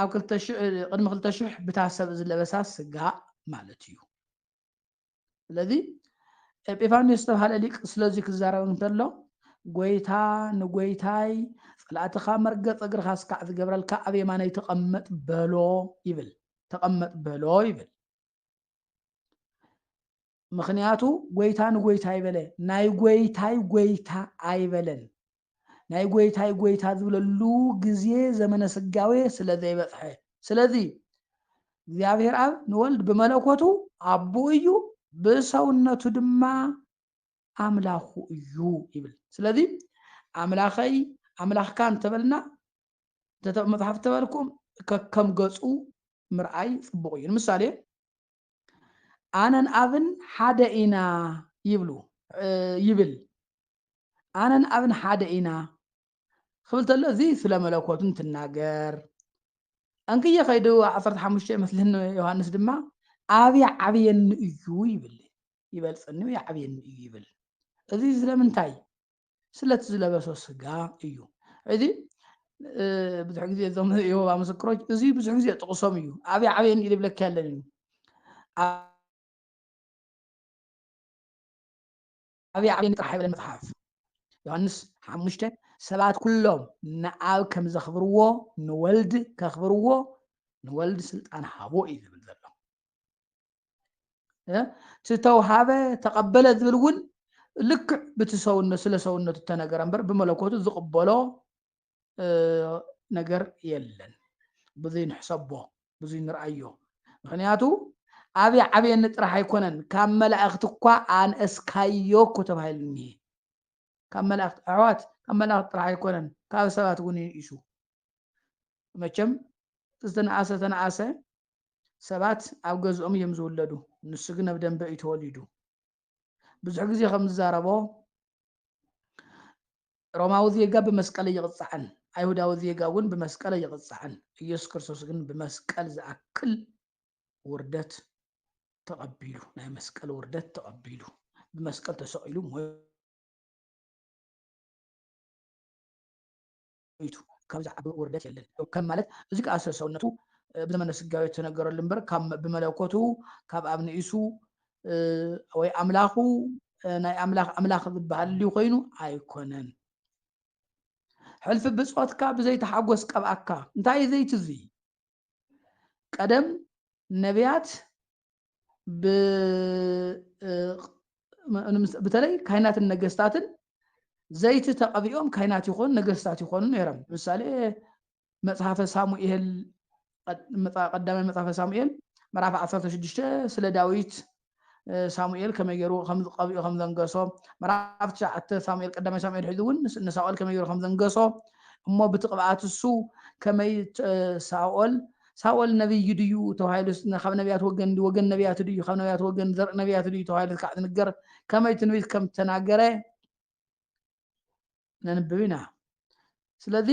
ኣብ ቅድሚ ክልተ ሽሕ ብታ ሰብ ዝለበሳ ስጋ ማለት እዩ ስለዚ ኤጲፋንዮስ ዝተብሃለ ሊቅ ስለዚ ክዛረብ እንተሎ ጐይታ ንጐይታይ ጸላእትኻ መርገጽ እግርኻ ስካዕ ዝገብረልካ ኣብ የማነይ ተቐመጥ በሎ ይብል ተቐመጥ በሎ ይብል ምክንያቱ ጎይታ ንጎይታ ይበለ ናይ ጎይታይ ጎይታ ኣይበለን ናይ ጐይታይ ጐይታ ዝብለሉ ግዜ ዘመነ ስጋዌ ስለ ዘይበጽሐ። ስለዚ እግዚኣብሔር ኣብ ንወልድ ብመለኮቱ ኣቦኡ እዩ፣ ብሰውነቱ ድማ ኣምላኹ እዩ ይብል። ስለዚ ኣምላኸይ ኣምላኽካ እንተበልና እንተ መጽሓፍ እተበልኩም ከከም ገጹ ምርኣይ ጽቡቕ እዩ። ንምሳሌ ኣነን ኣብን ሓደ ኢና ይብሉ ይብል ኣነን ኣብን ሓደ ኢና ክብል ተሎ እዚ ስለ መለኮቱ እንትናገር እንክየ ከይዱ ዓሰርተ ሓሙሽተ ይመስለኒ ዮሃንስ ድማ ኣብ ይዓብየኒ እዩ ይብል ይበልፀኒ ይዓብየኒ እዩ ይብል እዚ ስለምንታይ ስለቲ ዝለበሶ ስጋ እዩ እዚ ብዙሕ ግዜ እዞም የሆባ ምስክሮች እዚ ብዙሕ ግዜ ጥቕሶም እዩ ኣብይ ዓበየን ኢል ብለካ ያለን እዩ ኣብይ ዓበየን ጥራሕ ይብለን መፅሓፍ ዮሃንስ ሓሙሽተ ሰባት ኩሎም ንኣብ ከም ዘኽብርዎ ንወልድ ከኽብርዎ ንወልድ ስልጣን ሃቦ እዩ ዝብል ዘሎ ዝተውሃበ ተቐበለ ዝብል እውን ልክዕ ብቲ ሰውነት ስለ ሰውነቱ እተነገረ እምበር ብመለኮቱ ዝቕበሎ ነገር የለን ብዙይ ንሕሰቦ ብዙይ ንርኣዮ ምክንያቱ ኣብየ ዓብየኒ ጥራሕ ኣይኮነን ካብ መላእኽቲ እኳ ኣንእስካዮ እኮ ተባሂሉ እኒሄ ካብ መላእክት ኣሕዋት ካብ መላእክት ጥራሕ ኣይኮነን ካብ ሰባት እውን ይንእሹ መቸም ዝተነኣሰ ተነኣሰ ሰባት ኣብ ገዝኦም እዮም ዝውለዱ ንሱ ግን ኣብ ደንበ እዩ ተወሊዱ ብዙሕ ግዜ ከም ዝዛረቦ ሮማዊ ዜጋ ብመስቀል እይቕፃዕን ኣይሁዳዊ ዜጋ እውን ብመስቀል እይቕፃዕን ኢየሱስ ክርስቶስ ግን ብመስቀል ዝኣክል ውርደት ተቐቢሉ ናይ መስቀል ውርደት ተቐቢሉ ብመስቀል ተሰቒሉ ሞይቱ ካብዚ ዓቢ ውርደት የለን ከም ማለት እዚ ከዓ ሰብሰውነቱ ብዘመነ ስጋዊ ተነገረሉ እምበር ብመለኮቱ ካብ ኣብ ንኢሱ ወይ ኣምላኹ ናይ ኣምላኽ ኣምላኽ ዝበሃል ድዩ ኮይኑ ኣይኮነን ሕልፊ ብፆትካ ብዘይተሓጎስ ቀብኣካ እንታይ እዩ ዘይቲ እዙይ ቀደም ነቢያት ብተለይ ካይናትን ነገስታትን ዘይቲ ተቐቢኦም ካይናት ይኾኑ ነገስታት ይኾኑ ነይሮም ምሳሌ መፅሓፈ ሳሙኤል ቀዳማይ መፅሓፈ ሳሙኤል ምዕራፍ 16 ስለ ዳዊት ሳሙኤል ከመይ ገይሩ ከም ዝቐብኦ ከም ዘንገሶ ምዕራፍ ትሽዓተ ሳሙኤል ቀዳማይ ሳሙኤል ሒዙ እውን ንሳኦል ከመይ ገይሩ ከም ዘንገሶ እሞ ብቲ ቅብኣት እሱ ከመይ ሳኦል ሳኦል ነብይ ድዩ ተባሂሉ ካብ ነቢያት ወገን ወገን ነቢያት ድዩ ካብ ነቢያት ወገን ዘርኢ ነቢያት ድዩ ተባሂሉ ክዓ ዝንገር ከመይ ትንቢት ከም ተናገረ ነንብብ ኢና ስለዚ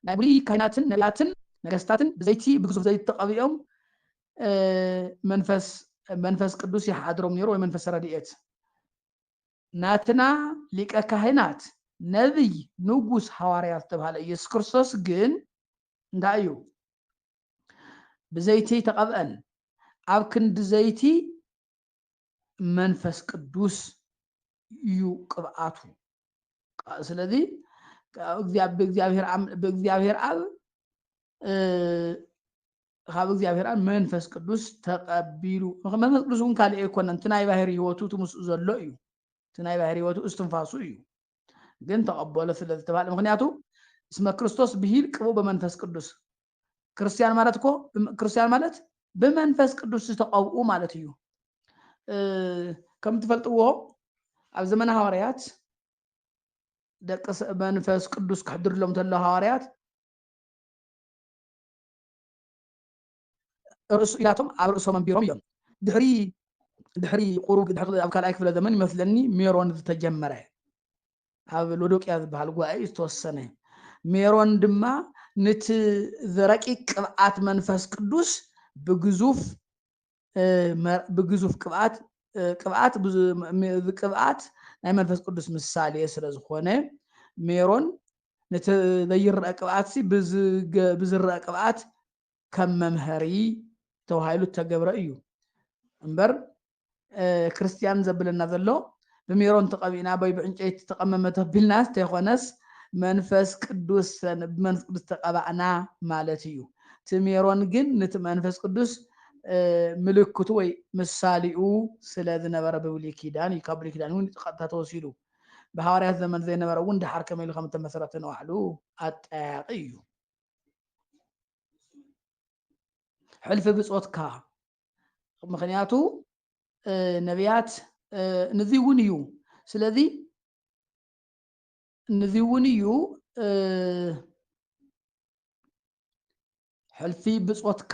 ናይ ብሉይ ካህናትን ነብያትን ነገስታትን ብዘይቲ ብግዙፍ ዘይቲ ተቐቢኦም መንፈስ መንፈስ ቅዱስ ይሓድሮም ነይሩ ወይ መንፈስ ረድኤት ናትና ሊቀ ካህናት ነቢይ ንጉስ ሃዋርያ ዝተባሃለ ኢየሱስ ክርስቶስ ግን እንታይ እዩ ብዘይቲ ተቐብአን ኣብ ክንዲ ዘይቲ መንፈስ ቅዱስ እዩ ቅብኣቱ ስለዚ ብእግዚኣብሔር ኣብ ካብ እግዚኣብሔር ኣብ መንፈስ ቅዱስ ተቐቢሉ መንፈስ ቅዱስ እውን ካልእ ኣይኮነን እቲ ናይ ባህር ህይወቱ እቲ ምስኡ ዘሎ እዩ እቲ ናይ ባህር ህይወቱ እስትንፋሱ እዩ ግን ተቐበሎ ስለ ዝተባሃለ ምክንያቱ እስመ ክርስቶስ ብሂል ቅቡ በመንፈስ ቅዱስ ክርስትያን ማለት እኮ ክርስትያን ማለት ብመንፈስ ቅዱስ ዝተቐብኡ ማለት እዩ ከም ትፈልጥዎ ኣብ ዘመነ ሃዋርያት ደቂ መንፈስ ቅዱስ ክሕድርሎም እንተሎ ሃዋርያት ርእሱ ኢላቶም ኣብ ርእሶም ኣንቢሮም እዮም ድሕሪ ድሕሪ ቁሩብ ድሕሪ ኣብ ካልኣይ ክፍለ ዘመን ይመስለኒ ሜሮን ዝተጀመረ ኣብ ሎዶቅያ ዝበሃል ጉባኤ ዝተወሰነ ሜሮን ድማ ንቲ ዝረቂቅ ቅብኣት መንፈስ ቅዱስ ብግዙፍ ብግዙፍ ቅብኣት ቅብኣት ቅብኣት ናይ መንፈስ ቅዱስ ምሳሌ ስለ ዝኾነ ሜሮን ነቲ ዘይረአ ቅብኣትሲ ብዝረአ ቅብኣት ከም መምሀሪ ተባሂሉ ዝተገብረ እዩ እምበር ክርስትያን ዘብለና ዘሎ ብሜሮን ተቐቢእና ወይ ብዕንጨይቲ ተቐመመ ተቢልናስ ተይኮነስ መንፈስ ቅዱስ ብመንፈስ ቅዱስ ተቐባእና ማለት እዩ እቲ ሜሮን ግን ነቲ መንፈስ ቅዱስ ምልክቱ ወይ ምሳሌኡ ስለ ዝነበረ ብብሉይ ኪዳን እዩ ካብ ብሉይ ኪዳን እውን ቀጥታ ተወሲዱ ብሃዋርያት ዘመን ዘይነበረ እውን ድሓር ከመይ ኢሉ ከም እተመሰረተ ንባዕሉ ኣጠያያቂ እዩ ሕልፊ ብጾትካ ምክንያቱ ነቢያት ንዚ እውን እዩ ስለዚ ንዚ እውን እዩ ሕልፊ ብጾትካ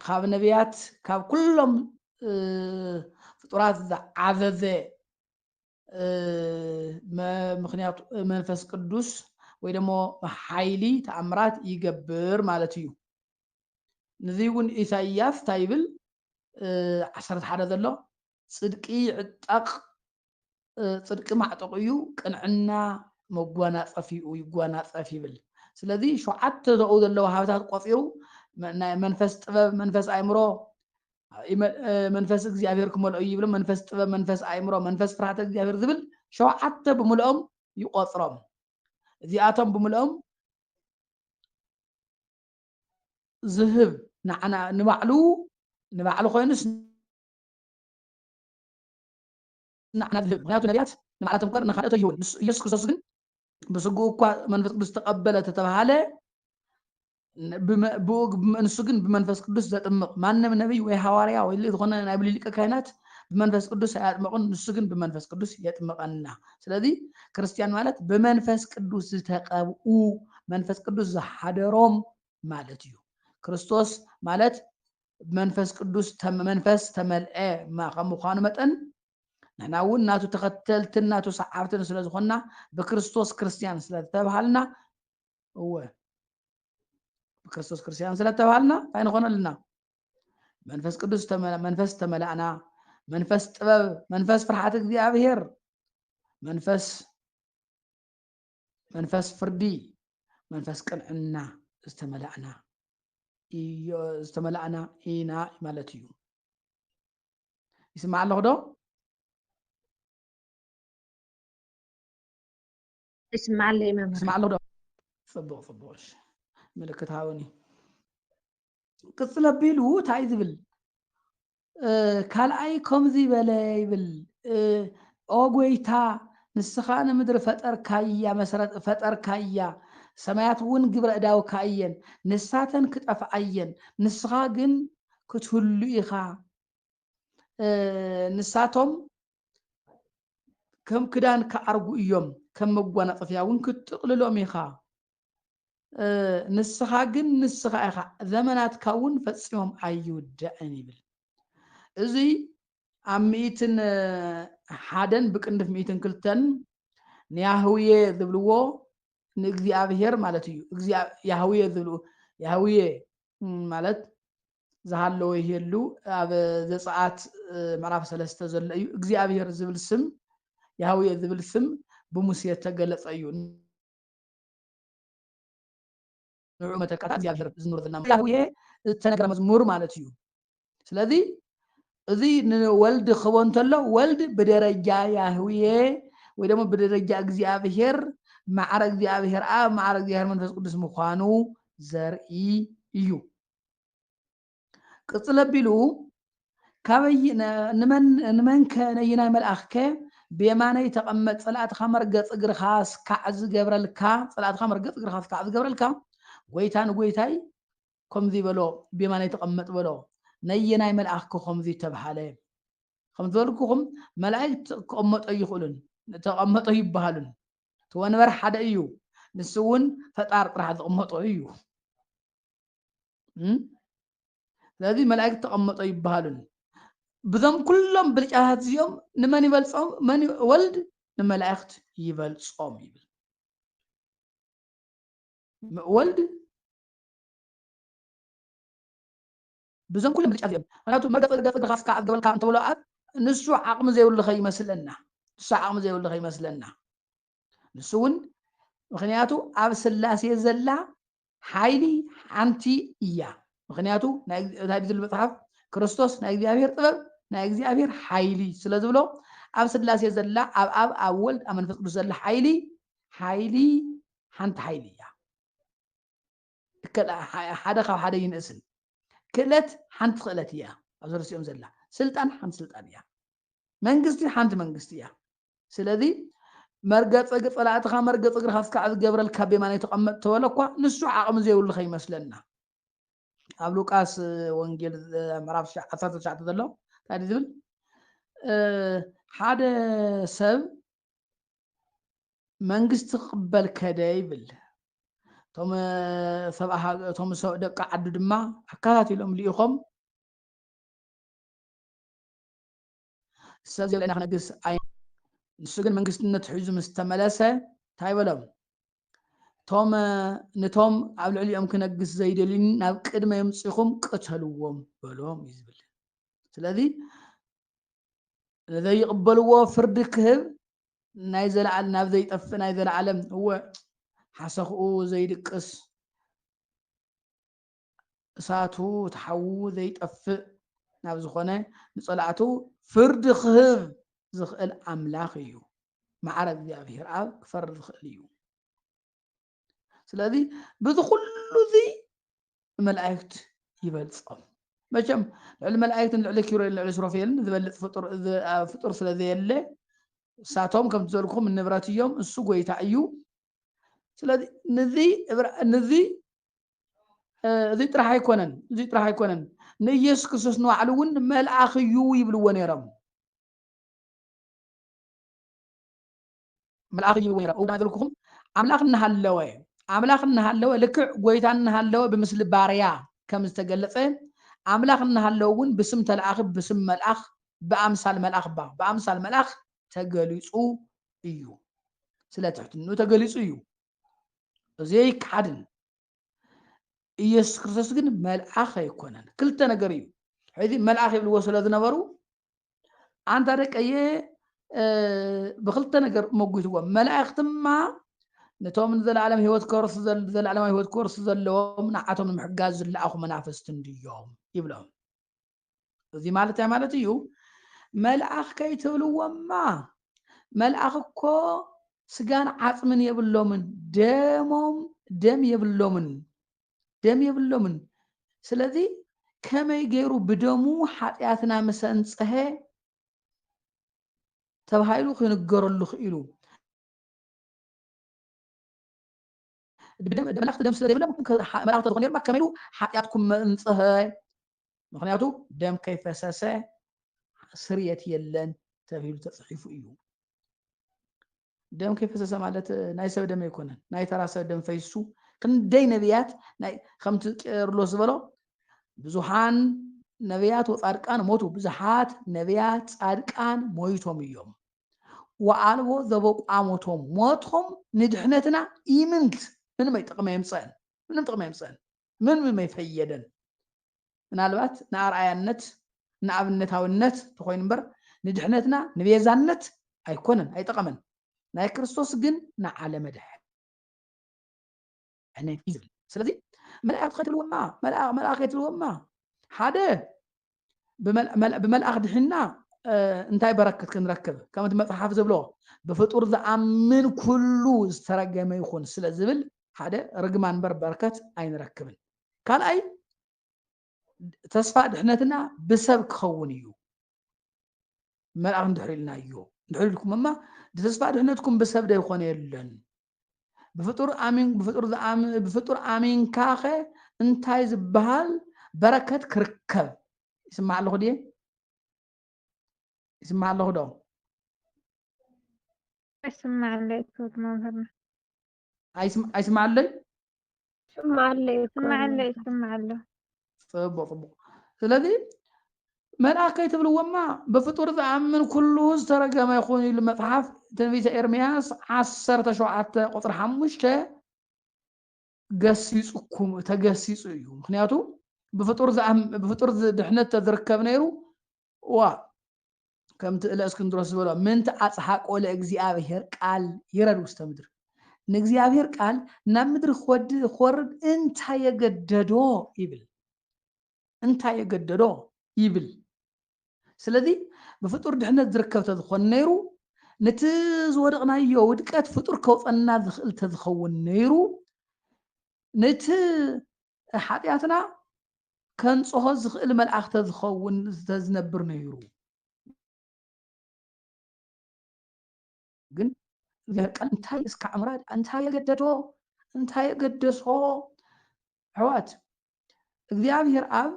ካብ ነቢያት ካብ ኩሎም ፍጡራት ዝዓዘዘ ምክንያቱ መንፈስ ቅዱስ ወይ ደሞ ሓይሊ ተኣምራት ይገብር ማለት እዩ ንዚ እውን ኢሳይያስ እንታይ ይብል ዓሰርተ ሓደ ዘሎ ፅድቂ ይዕጠቕ ፅድቂ ማዕጠቑ እዩ ቅንዕና መጓናፀፊኡ ይጓናፀፍ ይብል ስለዚ ሸውዓተ ዘኡ ዘለዉ ሃብታት ቆፂሩ ናይ መንፈስ ጥበብ መንፈስ ኣእምሮ መንፈስ እግዚኣብሔር ክመልኦ እዩ ይብሎም መንፈስ ጥበብ መንፈስ ኣእምሮ መንፈስ ፍርሃተ እግዚኣብሔር ዝብል ሸውዓተ ብምልኦም ይቆፅሮም እዚኣቶም ብምልኦም ዝህብ ንዓና ንባዕሉ ንባዕሉ ኮይኑስ ንዓና ዝህብ፣ ምኽንያቱ ነብያት ንባዕላቶም እምበር ንኻልኦት ኣይህቡን፣ ንሱ ኢየሱስ ክርስቶስ ግን ብስግኡ እኳ መንፈስ ቅዱስ ተቐበለ ተተባህለ፣ ንሱ ግን ብመንፈስ ቅዱስ ዘጥምቕ፣ ማንም ነቢይ ወይ ሃዋርያ ወይ ዝኾነ ናይ ብሉይ ሊቀ ካህናት ብመንፈስ ቅዱስ ኣያጥመቑን፣ ንሱ ግን ብመንፈስ ቅዱስ የጥምቐና። ስለዚ ክርስትያን ማለት ብመንፈስ ቅዱስ ዝተቐብኡ፣ መንፈስ ቅዱስ ዝሓደሮም ማለት እዩ። ክርስቶስ ማለት ብመንፈስ ቅዱስ መንፈስ ተመልዐ ከም ምዃኑ መጠን ንሕና እውን ናቱ ተኸተልትን ናቱ ሰዓብትን ስለ ዝኾንና ብክርስቶስ ክርስትያን ስለ ዝተብሃልና እወ ብክርስቶስ ክርስትያን ስለ ዝተብሃልና እንታይ ንኾነ ኣለና መንፈስ ቅዱስ መንፈስ ተመላእና መንፈስ ጥበብ መንፈስ ፍርሓት እግዚኣብሄር መንፈስ መንፈስ ፍርዲ መንፈስ ቅንዕና ዝተመላእና ዝተመላእና ኢና ማለት እዩ ይስማዕ ኣለኹ ዶ ይስማዕ ኣለይ መምህር ይስማዕ ኣለኹ ዶ ፅቡቅ ፅቡቅ ምልክት ሃውኒ ቅፅል ኣቢሉ እንታይ እዩ ዝብል ካልኣይ ከምዚ በለ ይብል ኦ ጎይታ ንስኻ ንምድሪ ፈጠርካያ መሰረት ፈጠርካያ ሰማያት እውን ግብረ እዳውካ እየን ንሳተን ክጠፍኣ እየን ንስኻ ግን ክትህሉ ኢኻ ንሳቶም ከም ክዳን ክዓርጉ እዮም ከም መጓናፀፊያ እውን ክትጥቕልሎም ኢኻ ንስኻ ግን ንስኻ ኢኻ፣ ዘመናትካ እውን ፈጺሞም ኣይውዳእን ይብል። እዙይ ኣብ ሚእትን ሓደን ብቅንፍ ሚእትን ክልተን ንያህውየ ዝብልዎ ንእግዚኣብሄር ማለት እዩ። ያህውየ ዝብልዎ ያህውየ ማለት ዝሃለወ ይህሉ ኣብ ዘፀኣት ምዕራፍ ሰለስተ ዘሎ እዩ። እግዚኣብሄር ዝብል ስም ያህውየ ዝብል ስም ብሙሴ ተገለፀ እዩ። ንዑ መተካእታ እግዚኣብሔር ዝኑረ ዘለና ያህዌ ዝተነገረ መዝሙር ማለት እዩ ስለዚ እዚ ንወልድ ክህቦ እንተሎ ወልድ ብደረጃ ያህዌ ወይ ደግሞ ብደረጃ እግዚኣብሔር ማዕረ እግዚኣብሔር ኣብ ማዕረ እግዚኣብሔር መንፈስ ቅዱስ ምዃኑ ዘርኢ እዩ ቅፅል ኣቢሉ ንመንከ ነይናይ መልኣኽከ ብየማነይ ተቐመጥ ፀላእትኻ መርገፅ እግርኻ ስካዕ ዝገብረልካ ፀላእትኻ መርገፅ እግርኻ ስካዕ ዝገብረልካ ጎይታ ንጎይታይ ከምዙይ በሎ ብየማነይ ተቐመጥ በሎ ነየናይ መልኣኽከ ከምዙይ ተብሃለ ከም ዝበልኩኹም መላእክት ክቐመጦ ይኽእሉን ተቐመጦ ይበሃሉን እቲ ወንበር ሓደ እዩ ንሱ እውን ፈጣር ጥራሕ ዝቕመጦ እዩ ስለዚ መላእክት ተቐመጦ ይበሃሉን ብዞም ኩሎም ብልጫታት እዚኦም ንመን ይበልፆም መን ወልድ ንመላእክት ይበልፆም ይብል ወልድ ብዞም ኩሎም ብልጫ እዚኦም ምክንያቱ መርገፂ ገፅ እግርኻ እስካ ኣገበልካ እንተብሎ ኣብ ንሱ ዓቕሚ ዘይብሉ ከይመስለና ንሱ ዓቕሚ ዘይብሉ ከይመስለና ንሱ እውን ምክንያቱ ኣብ ስላሴ ዘላ ሓይሊ ሓንቲ እያ ምክንያቱ ናይ ብዝብል መፅሓፍ ክርስቶስ ናይ እግዚኣብሔር ጥበብ ናይ እግዚኣብሔር ሓይሊ ስለ ዝብሎ ኣብ ስላሴ ዘላ ኣብ ኣብ ኣብ ወልድ ኣብ መንፈስ ቅዱስ ዘላ ሓይሊ ሓይሊ ሓንቲ ሓይሊ እያ ሓደ ካብ ሓደ ይንእስን። ክእለት ሓንቲ ክእለት እያ ኣብዚ ርእሲኦም ዘላ። ስልጣን ሓንቲ ስልጣን እያ። መንግስቲ ሓንቲ መንግስቲ እያ። ስለዚ መርገፂ እግ ፀላእትኻ መርገፂ እግርኻ እስካዕ ዝገብረልካ ቤማናይ ተቐመጥ ተበለ እኳ ንሱ ዓቕሚ ዘይብሉ ከይመስለና። ኣብ ሉቃስ ወንጌል ምዕራፍ 19 ዘሎ እንታይ ዝብል ሓደ ሰብ መንግስቲ ክቕበል ከደ ይብል። እቶም ሰብኣ ሃገ- እቶም ሰ- ደቂ ዓዱ ድማ ኣከታቲሎም ልኢኾም ሰብ ዘለና ክነግስ ኣይ ንሱ ግን መንግስትነቱ ሒዙ ምስ ተመለሰ እንታይ በሎም እቶም ነቶም ኣብ ልዕሊኦም ክነግስ ዘይደልዩኒ ናብ ቅድመ የምፅኹም ቅተልዎም በሎም እዩ ዝብል ስለዚ ንዘይቕበልዎ ፍርዲ ክህብ ናይ ዘለዓል ናብ ዘይጠፍእ ናይ ዘለዓለም እወ ሓሰኽኡ ዘይድቅስ እሳቱ ተሓዉ ዘይጠፍእ ናብ ዝኾነ ንጸላእቱ ፍርዲ ክህብ ዝኽእል ኣምላኽ እዩ መዓረ እግዚኣብሔር ኣብ ክፈርድ ዝኽእል እዩ ስለዚ በዚ ኩሉ እዚ ንመላእክት ይበልጾም መቸም ልዕሊ መላእክትን ልዕሊ ኪሮኤል ልዕሊ ስሮፌልን ዝበልፅ ፍጡር ስለዘየለ እሳቶም ከምቲ ዘልኩም ንብረት እዮም እሱ ጎይታ እዩ ስለዚ ንዚ ንዚ እዚ ጥራሕ ኣይኮነን እዚ ጥራሕ ኣይኮነን ንኢየሱስ ክርስቶስ ንባዕሉ እውን መልኣኽ እዩ ይብልዎ ነይሮም መልኣኽ ይብል ወይራ እውዳ ዘልኩኹም ኣምላኽ እናሃለወ ኣምላኽ እናሃለወ ልክዕ ጎይታ እናሃለወ ብምስሊ ባርያ ከም ዝተገለጸ ኣምላኽ እናሃለወ እውን ብስም ተለኣኺ ብስም መልኣኽ ብኣምሳል መልኣኽ ባ ብኣምሳል መልኣኽ ተገሊጹ እዩ ስለ ትሕትንኡ ተገሊጹ እዩ እዚ ኣይከሓድን ኢየሱስ ክርስቶስ ግን መልኣኽ ኣይኮነን። ክልተ ነገር እዩ። ሕዚ መልኣኽ ይብልዎ ስለ ዝነበሩ ኣንታ ደቀየ ብክልተ ነገር መጒትዎ መላእኽትማ ነቶም ንዘለኣለም ህይወት ከርሱ ዘለኣለማዊ ህይወት ከርሱ ዘለዎም ንዓቶም ንምሕጋዝ ዝለኣኹ መናፍስቲ እንድዮም ይብሎም። እዚ ማለት እንታይ ማለት እዩ መልኣኽ ከይትብልዎማ መልኣኽ እኮ ስጋን ዓፅምን የብሎምን ደሞም ደም የብሎምን ደም የብሎምን ስለዚ ከመይ ገይሩ ብደሙ ሓጢኣትና ምስ ኣንፀሀ ተባሂሉ ክንገረሉ ክኢሉ ብደመላእክቲ ደም ስለ ዘይብለ መላእክቲ ተዝኾኑ ነይሮም ከመይ ኢሉ ሓጢኣትኩም መእንጽሀ ምክንያቱ ደም ከይፈሰሰ ስርየት የለን ተብሂሉ ተጽሒፉ እዩ ደም ከይፈሰሰ ማለት ናይ ሰብ ደም ኣይኮነን ናይ ተራ ሰብ ደም ፈይሱ ክንደይ ነቢያት ከምቲ ቄርሎስ ዝበሎ ብዙሓን ነቢያት ወፃድቃን ሞቱ ብዙሓት ነቢያት ፃድቃን ሞይቶም እዮም ወኣልቦ ዘበቋሞቶም ሞትኩም ንድሕነትና ኢምንት ምንም ኣይጠቅም ኣይምፀእን ምንም ጥቅሚ ኣይምፀእን ምንም ኣይፈየደን ምናልባት ንኣርኣያነት ንኣብነታዊነት ተኾይኑ እምበር ንድሕነትና ንቤዛነት ኣይኮነን ኣይጠቀመን ናይ ክርስቶስ ግን ንዓለመ ድሐ ዕንወት እዩ ዝብል ስለዚ መላእክቲ ከትልውማ መልኣኽ ከትልውማ ሓደ ብመልኣኽ ድሒና እንታይ በረክት ክንረክብ ከም እቲ መፅሓፍ ዝብሎ ብፍጡር ዝኣምን ኩሉ ዝተረገመ ይኹን ስለ ዝብል ሓደ ርግማ እንበር በረከት ኣይንረክብን ካልኣይ ተስፋ ድሕነትና ብሰብ ክኸውን እዩ መልኣኽ እንድሕር ኢልና እዩ እንድሕር ኢልኩምማ ተስፋ ድሕነትኩም ብሰብ ዶ ይኾነ የለን ብፍጡር ኣሚን ብፍጡር ዝኣም ብፍጡር ኣሚንካኸ እንታይ ዝበሃል በረከት ክርከብ ይስማዕ ኣለኹ ድየ ይስማዕ ኣለኹ ዶ ኣይስማዕ ኣለይ ክብር መምህርና ኣይስማዕ ኣለይ ይስማዓለ እዩ እኮ ይስማዕ ኣሎ ኣነታ። ይስማዕ ኣሎ ጽቡቕ ጽቡቕ ስለዚ መልኣክ ከይትብልዎማ ብፍጡር ዝኣምን ኩሉ ዝተረገመ ይኹን ኢሉ መጽሓፍ ትንቢተ ኤርምያስ ዓሰርተ ሸውዓተ ቁጽሪ ሓሙሽተ ገሲጹኩም ተገሲጹ እዩ ምክንያቱ ብፍጡር ዝኣም- ብፍጡር ዝ- ድሕነት ተዝርከብ ነይሩ ዋ ከምቲ እለ እስክንድሮስ ዝበሎ ምንት ኣጽሓቆ ለእግዚኣብሔር ቃል ይረድ ውስተ ምድር ንእግዚኣብሔር ቃል ናብ ምድሪ ክወርድ እንታይ የገደዶ ይብል እንታይ የገደዶ ይብል ስለዚ ብፍጡር ድሕነት ዝርከብ ተዝኾን ነይሩ ነቲ ዝወደቕናዮ ውድቀት ፍጡር ከውፀና ዝኽእል ተዝኸውን ነይሩ ነቲ ሓጢኣትና ከንጽሆ ዝኽእል መልኣኽ ተዝኸውን ተዝነብር ነይሩ ግን ቃል እንታይ እስካዕ ምራድ እንታይ የገደዶ እንታይ የገደሶ ኣሕዋት እግዚኣብሔር ኣብ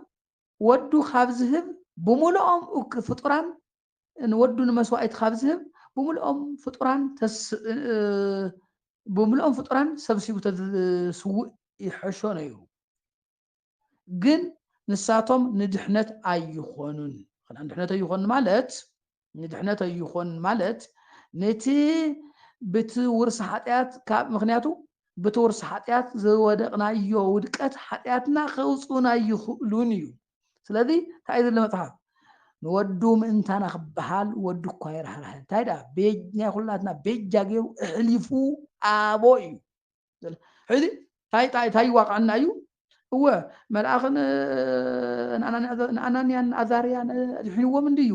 ወዱ ካብ ዝህብ ብምልኦም ፍጡራን ንወዱ ንመስዋኢት ኻብ ዚህብ፣ ብምሉኦም ፍጡራን ብምሉኦም ፍጡራን ሰብሲቡ ተዝስውእ ይሐሾ ነይሩ። ግን ንሳቶም ንድሕነት ኣይኾኑን። ኽን ንድሕነት ኣይኾኑን ማለት ንድሕነት ኣይኾኑን ማለት ነቲ ብቲ ውርሲ ሓጢኣት ካብ ምክንያቱ ብቲ ውርሲ ሓጢኣት ዝወደቕናዮ ውድቀት ሓጢኣትና ኸውጽኡና ኣይኽእሉን እዩ። ስለዚ እንታይ እዩ ዝብለ መጽሓፍ ንወዱ ምእንታና ክበሃል ወዱ እኳ የራህራህ እንታይ ደኣ ናይ ኩላትና ቤጃ ገይሩ እሕሊፉ ኣቦ እዩ ሕዚ እንታይ ይዋቕዐና እዩ እወ መልኣኽ ንኣናንያን ኣዛርያን ኣድሒንዎም እንድዩ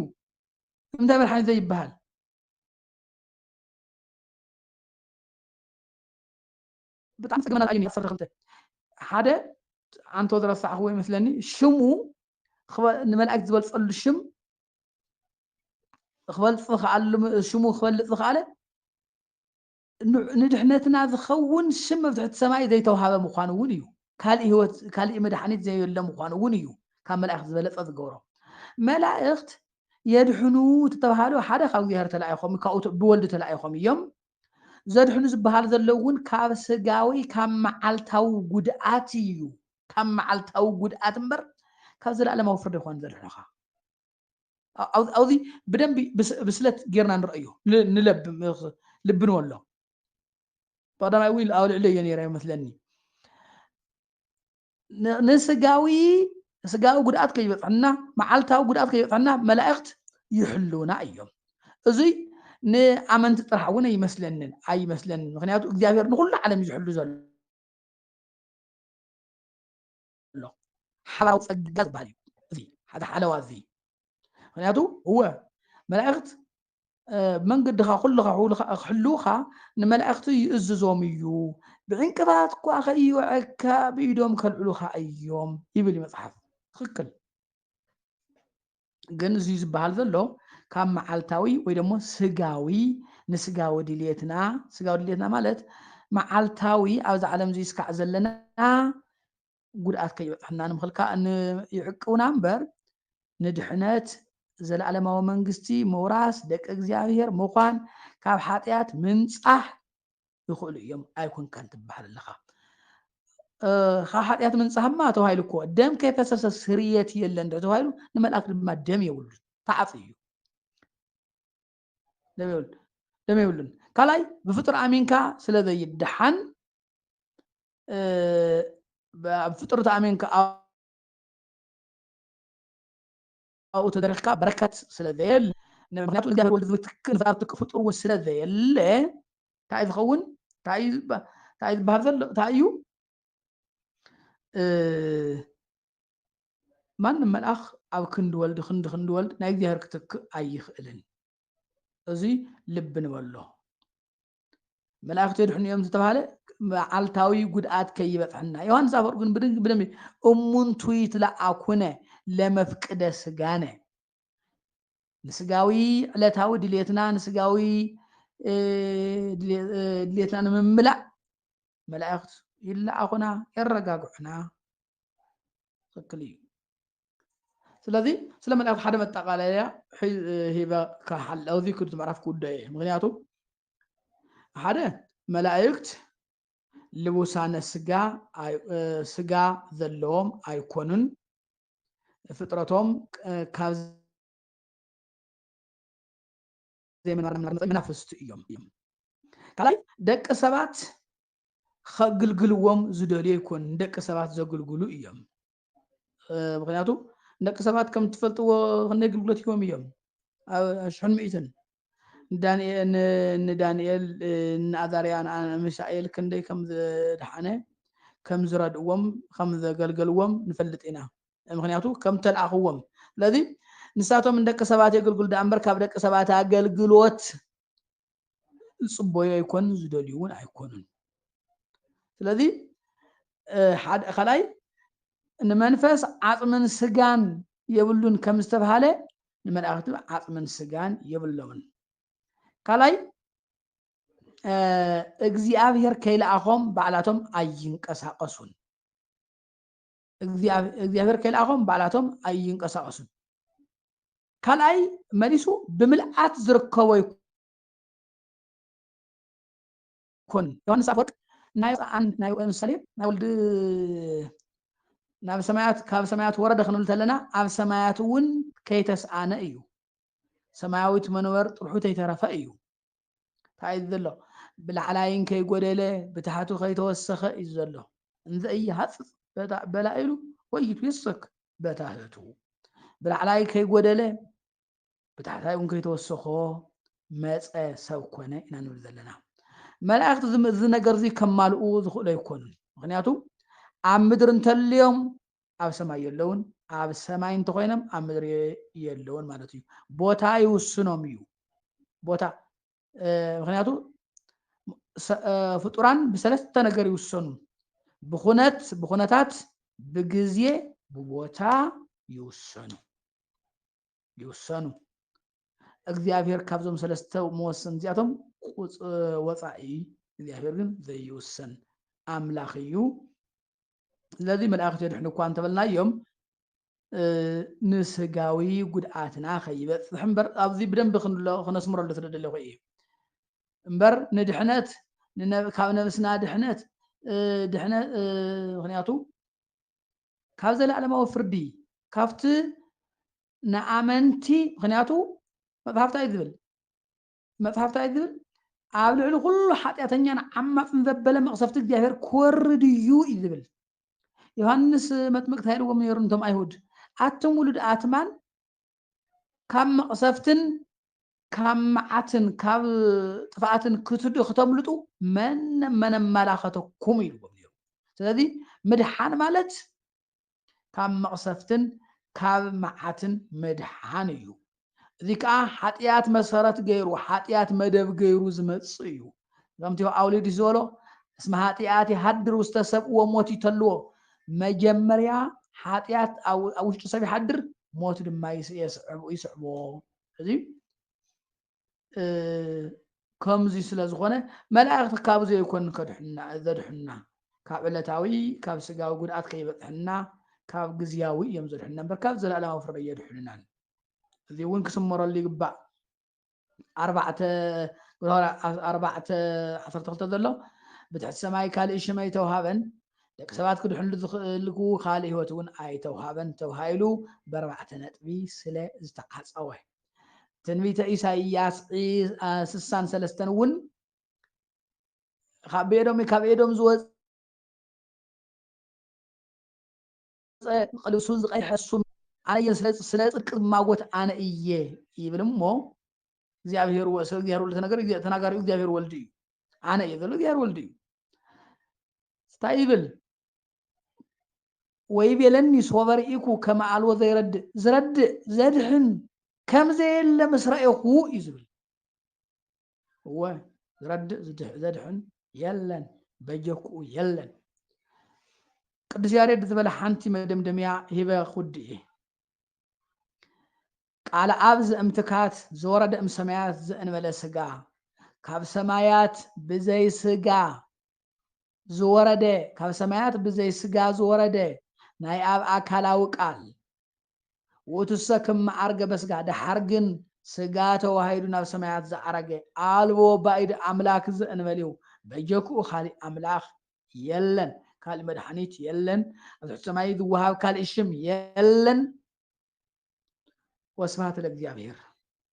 እንታይ መድሓኒ ዘይበሃል ብጣዕሚ ጸገመና ኣዩ ነይሩ ዓሰርተ ክልተ ሓደ ኣንቶ ዝረሳዕክዎ ይመስለኒ ሽሙ ንመላእክት ዝበልጸሉ ሽም ክበልጽ ዝኸኣሉ ሽሙ ክበልጽ ዝኸኣለ ንድሕነትና ዝኸውን ሽም መብትሕቲ ሰማይ ዘይተዋሃበ ምዃኑ እውን እዩ ካልእ ህይወት ካልእ መድሓኒት ዘየለ ምዃኑ እውን እዩ ካብ መላእኽት ዝበለጸ ዝገብሮ መላእኽት የድሕኑ ተተባሃሉ ሓደ ካብ እግዚኣብሔር ተላኢኾም ካብኡ ብወልዱ ተላኢኾም እዮም ዘድሕኑ ዝበሃል ዘለዉ እውን ካብ ስጋዊ ካብ መዓልታዊ ጉድኣት እዩ ካብ መዓልታዊ ጉድኣት እምበር ካብ ዘለኣለማዊ ፍርዲ ይኮን ዘድሕኑኻ ኣብዚ ብደንቢ ብስለት ጌርና ንረአዮ ንለብ ልቢ ንበሎ ብቀዳማይ እውን ኣብ ልዕሊ እየ ነይረ መስለኒ ንስጋዊ ስጋዊ ጉድኣት ከይበፅሐና መዓልታዊ ጉድኣት ከይበፅሐና መላእክት ይሕልውና እዮም እዙይ ንኣመንቲ ጥራሕ እውን ኣይመስለንን ኣይመስለንን ምክንያቱ እግዚኣብሔር ንኩሉ ዓለም ዝሕሉ ዘሎ ሓላዊ ፀጋ ዝበሃል እዩ እዚ ሓደ ሓለዋ እዚ ምክንያቱ እወ መላእክት መንገድኻ ኩልኻ ክሕልውኻ ንመላእክቲ ይእዝዞም እዩ ብዕንቅፋት እኳ ከይወዐካ ብኢዶም ከልዕሉኻ እዮም ይብል መፅሓፍ ትክክል ግን እዚ ዝበሃል ዘሎ ካብ መዓልታዊ ወይ ደሞ ስጋዊ ንስጋዊ ድልየትና ስጋዊ ድልየትና ማለት መዓልታዊ ኣብዚ ዓለም እዚ ስካዕ ዘለና ጉድኣት ከይበፅሐና ንምኽልካ ይዕቅቡና እምበር ንድሕነት ዘለኣለማዊ መንግስቲ ምውራስ ደቂ እግዚኣብሔር ምዃን ካብ ሓጢኣት ምንፃሕ ይኽእሉ እዮም ኣይኮንካን ትበሃል ኣለኻ ካብ ሓጢኣት ምንፃህማ ተባሂሉ እኮ ደም ከይፈሰሰ ስርየት የለን ድሕሪ ተባሂሉ ንመልኣክ ድማ ደም የብሉ ተዓፅ እዩ ደም የብሉን ካልኣይ ብፍጡር ኣሚንካ ስለ ዘይደሓን ኣብ ፍጡር ተኣሚንካ ኣብኡ ተደሪኽካ በረከት ስለ ዘየለ ምክንያቱ እግዚኣብሔር ወልድ ዝትክ ንፍጣር ትክ ፍጡር እውን ስለ ዘየለ እንታይ እዩ ዝኸውን እንታይ እዩ ዝበሃል ዘሎ እንታይ እዩ ማንም መልኣኽ ኣብ ክንዲ ወልድ ክንዲ ክንዲ ወልድ ናይ እግዚኣብሔር ክትክእ ኣይኽእልን እዙይ ልቢ ንበሎ መላእኽቲ የድሕኑ እዮም ዝተባሃለ መዓልታዊ ጉድኣት ከይበፅሐና ዮሃንስ ኣፈወርቅ ግን ብድንግ ብደም እሙንቱ ይትለኣኩነ ለመፍቅደ ስጋነ ንስጋዊ ዕለታዊ ድሌትና ንስጋዊ ድሌትና ንምምላእ መላእክት ይለኣኹና የረጋግዑና ትክክል እዩ ስለዚ ስለ መልእኽቲ ሓደ መጠቃለያ ሂበ ካሓል ኣብዚ ክዱ ምዕራፍ ክውደ እየ ምክንያቱ ሓደ መላእክት ልቡሳነ ስጋ ስጋ ዘለዎም ኣይኮኑን ፍጥረቶም ካብ ዘይምንባር መግለፂ መናፍስቲ እዮም። ካልኣይ ደቂ ሰባት ከግልግልዎም ዝደልዩ ኣይኮኑን፣ ንደቂ ሰባት ዘግልግሉ እዮም። ምክንያቱ ንደቂ ሰባት ከም ትፈልጥዎ ክንደይ ግልግሎት ሂቦም እዮም ኣብ ሽሕን ሚእትን ንዳንኤል ንኣዛርያ ንሚሳኤል ክንደይ ከም ዝደሓነ ከም ዝረድእዎም ከም ዘገልገልዎም ንፈልጥ ኢና ምክንያቱ ከም ተልኣኽዎም ስለዚ ንሳቶም ንደቂ ሰባት የገልግሉ ደኣ እምበር ካብ ደቂ ሰባት ኣገልግሎት ዝፅበዩ ኣይኮኑን ዝደልዩ እውን ኣይኮኑን ስለዚ ካልኣይ ንመንፈስ ዓፅምን ስጋን የብሉን ከም ዝተብሃለ ንመላእክቲ ዓፅምን ስጋን የብሎምን ካልኣይ እግዚኣብሔር ከይልኣኾም ባዕላቶም ኣይንቀሳቀሱን እግዚኣብሔር ከይልኣኾም ባዕላቶም ኣይንቀሳቀሱን ካልኣይ መሊሱ ብምልኣት ዝርከቦ ይኩን ዮሐንስ ኣፈወርቅ ናይ ናይ ምሳሌ ናይ ወልድ ናብ ሰማያት ካብ ሰማያት ወረደ ክንብል ተለና ኣብ ሰማያት እውን ከይተስኣነ እዩ ሰማያዊት መንበር ጥርሑ ተይተረፈ እዩ እንታይ እዩ ዘሎ ብላዕላይን ከይጎደለ ብታሕቱ ከይተወሰኸ እዩ ዘሎ እንዘኢይሃፅፅ በላኢሉ ወይ ይትወሰክ በታህቱ ብላዕላይ ከይጎደለ ብታሕታይ እውን ከይተወሰኾ መፀ ሰብ ኮነ ኢና ንብል ዘለና መላእክቲ እዚ ነገር እዚ ከማልኡ ዝኽእሉ ኣይኮኑን ምክንያቱ ኣብ ምድሪ እንተልዮም ኣብ ሰማይ የለውን፣ ኣብ ሰማይ እንተኾይኖም ኣብ ምድሪ የለውን ማለት እዩ። ቦታ ይውስኖም እዩ ቦታ ምክንያቱ ፍጡራን ብሰለስተ ነገር ይውሰኑ ብኩነት ብኩነታት ብግዜ ብቦታ ይውሰኑ ይውሰኑ እግዚኣብሔር ካብዞም ሰለስተ መወሰን እዚኣቶም ወፃኢ እግዚኣብሔር ግን ዘይውሰን ኣምላኽ እዩ ስለዚ መላእኽቲ የድሕኑ እኳ እንተበልናዮም ንስጋዊ ጉድኣትና ከይበፅሕ እምበር ኣብዚ ብደንቢ ክነስምረሉ ስለደለኹ እዩ እምበር ንድሕነት ካብ ነብስና ድሕነት ድሕነት ምክንያቱ ካብ ዘለኣለማዊ ፍርዲ ካብቲ ንኣመንቲ ምክንያቱ መፅሓፍታ እዩ ዝብል መጽሓፍ ታይ ዝብል ኣብ ልዕሊ ኩሉ ሓጢኣተኛን ዓማጽን ዘበለ መቕሰፍቲ እግዚኣብሔር ክወርድ እዩ እዩ ዝብል ዮሃንስ መጥምቅ ታይ ኢልዎም ነይሩ ንቶም ኣይሁድ ኣቱም ውሉድ ኣትማን ካብ መቕሰፍትን ካብ መዓትን ካብ ጥፍኣትን ክትድ ክተምልጡ መን መን ኣመላኸተኩም ኢልዎም ነይሩ ስለዚ ምድሓን ማለት ካብ መቕሰፍትን ካብ መዓትን ምድሓን እዩ። እዚ ከኣ ሓጥያት መሰረት ገይሩ፣ ሓጥያት መደብ ገይሩ ዝመጽእ እዩ። ከምቲ የውኣውሊድስ ዝበሎ እስመ ሃጥያት የሃድር ውስተ ሰብ ወሞት ይተልዎ፣ መጀመርያ ሓጥያት ኣብ ውሽጢ ሰብ ይሓድር፣ ሞት ድማ ይስዕቦ። እዚ ከምዙይ ስለ ዝኾነ መላእኽቲ ካብ ዘይኮን ከድሕና ዘድሕና ካብ ዕለታዊ ካብ ስጋዊ ጉድኣት ከይበፅሕና ካብ ግዝያዊ እዮም ዘድሕና እምበር ካብ ዘለኣለማዊ ፍርዲ የድሕኑናን እዚ እውን ክስመረሉ ይግባእ ኣርባዕተ ኣርባዕተ ዓሰርተ ክልተ ዘሎ ብትሕቲ ሰማይ ካልእ ሽም ኣይተውሃበን ደቂ ሰባት ክድሕንሉ ዝኽእልኩ ካልእ ህይወት እውን ኣይተውሃበን ተባሂሉ ብኣርባዕተ ነጥቢ ስለ ዝተዓፀወ ትንቢተ ኢሳይያስ ስሳን ሰለስተን እውን ካብ ኤዶም ካብ ኤዶም ዝወፀ ቅልሱን ዝቀይሐሱም ኣነየ ስለ ፅድቂ ዝማጎት ኣነ እየ ይብል እሞ እግዚኣብሄር ስለ እግዚኣብሄር ወልድ ተነገር ተናጋሪኡ እግዚኣብሄር ወልድ እዩ ኣነ እየ ዘሎ እግዚኣብሄር ወልድ እዩ እንታይ ይብል ወይቤለኒ ሶበ ርኢኩ ከመ ኣልቦ ዘይረድእ፣ ዝረድእ፣ ዘድኅን፣ ከም ዘየለ ምስ ረኤኹ እዩ ዝብል። እወ ዝረድእ ዘድኅን የለን፣ በጀክኡ የለን። ቅዱስ ያሬድ ዝበለ ሓንቲ መደምደምያ ሂበ ክውድእ እየ። ቃል ኣብ ዘእምትካት ዘወረደ እም ሰማያት ዘእንበለ ስጋ ካብ ሰማያት ብዘይ ስጋ ዝወረደ ካብ ሰማያት ብዘይ ሥጋ ዝወረደ ናይ ኣብ ኣካላዊ ቃል ውእቱሰ ክመ ዐርገ በሥጋ ደሓር ግን ሥጋ ተዋሂዱ ናብ ሰማያት ዝዓረገ ኣልቦ ባኢድ ኣምላክ ዘእንበሌው በጀክኡ ካሊእ ኣምላክ የለን ካሊእ መድኃኒት የለን ኣብ ትሕቲ ሰማይ ዝወሃብ ካሊእ ሽም የለን ወስብሐት ለእግዚኣብሔር።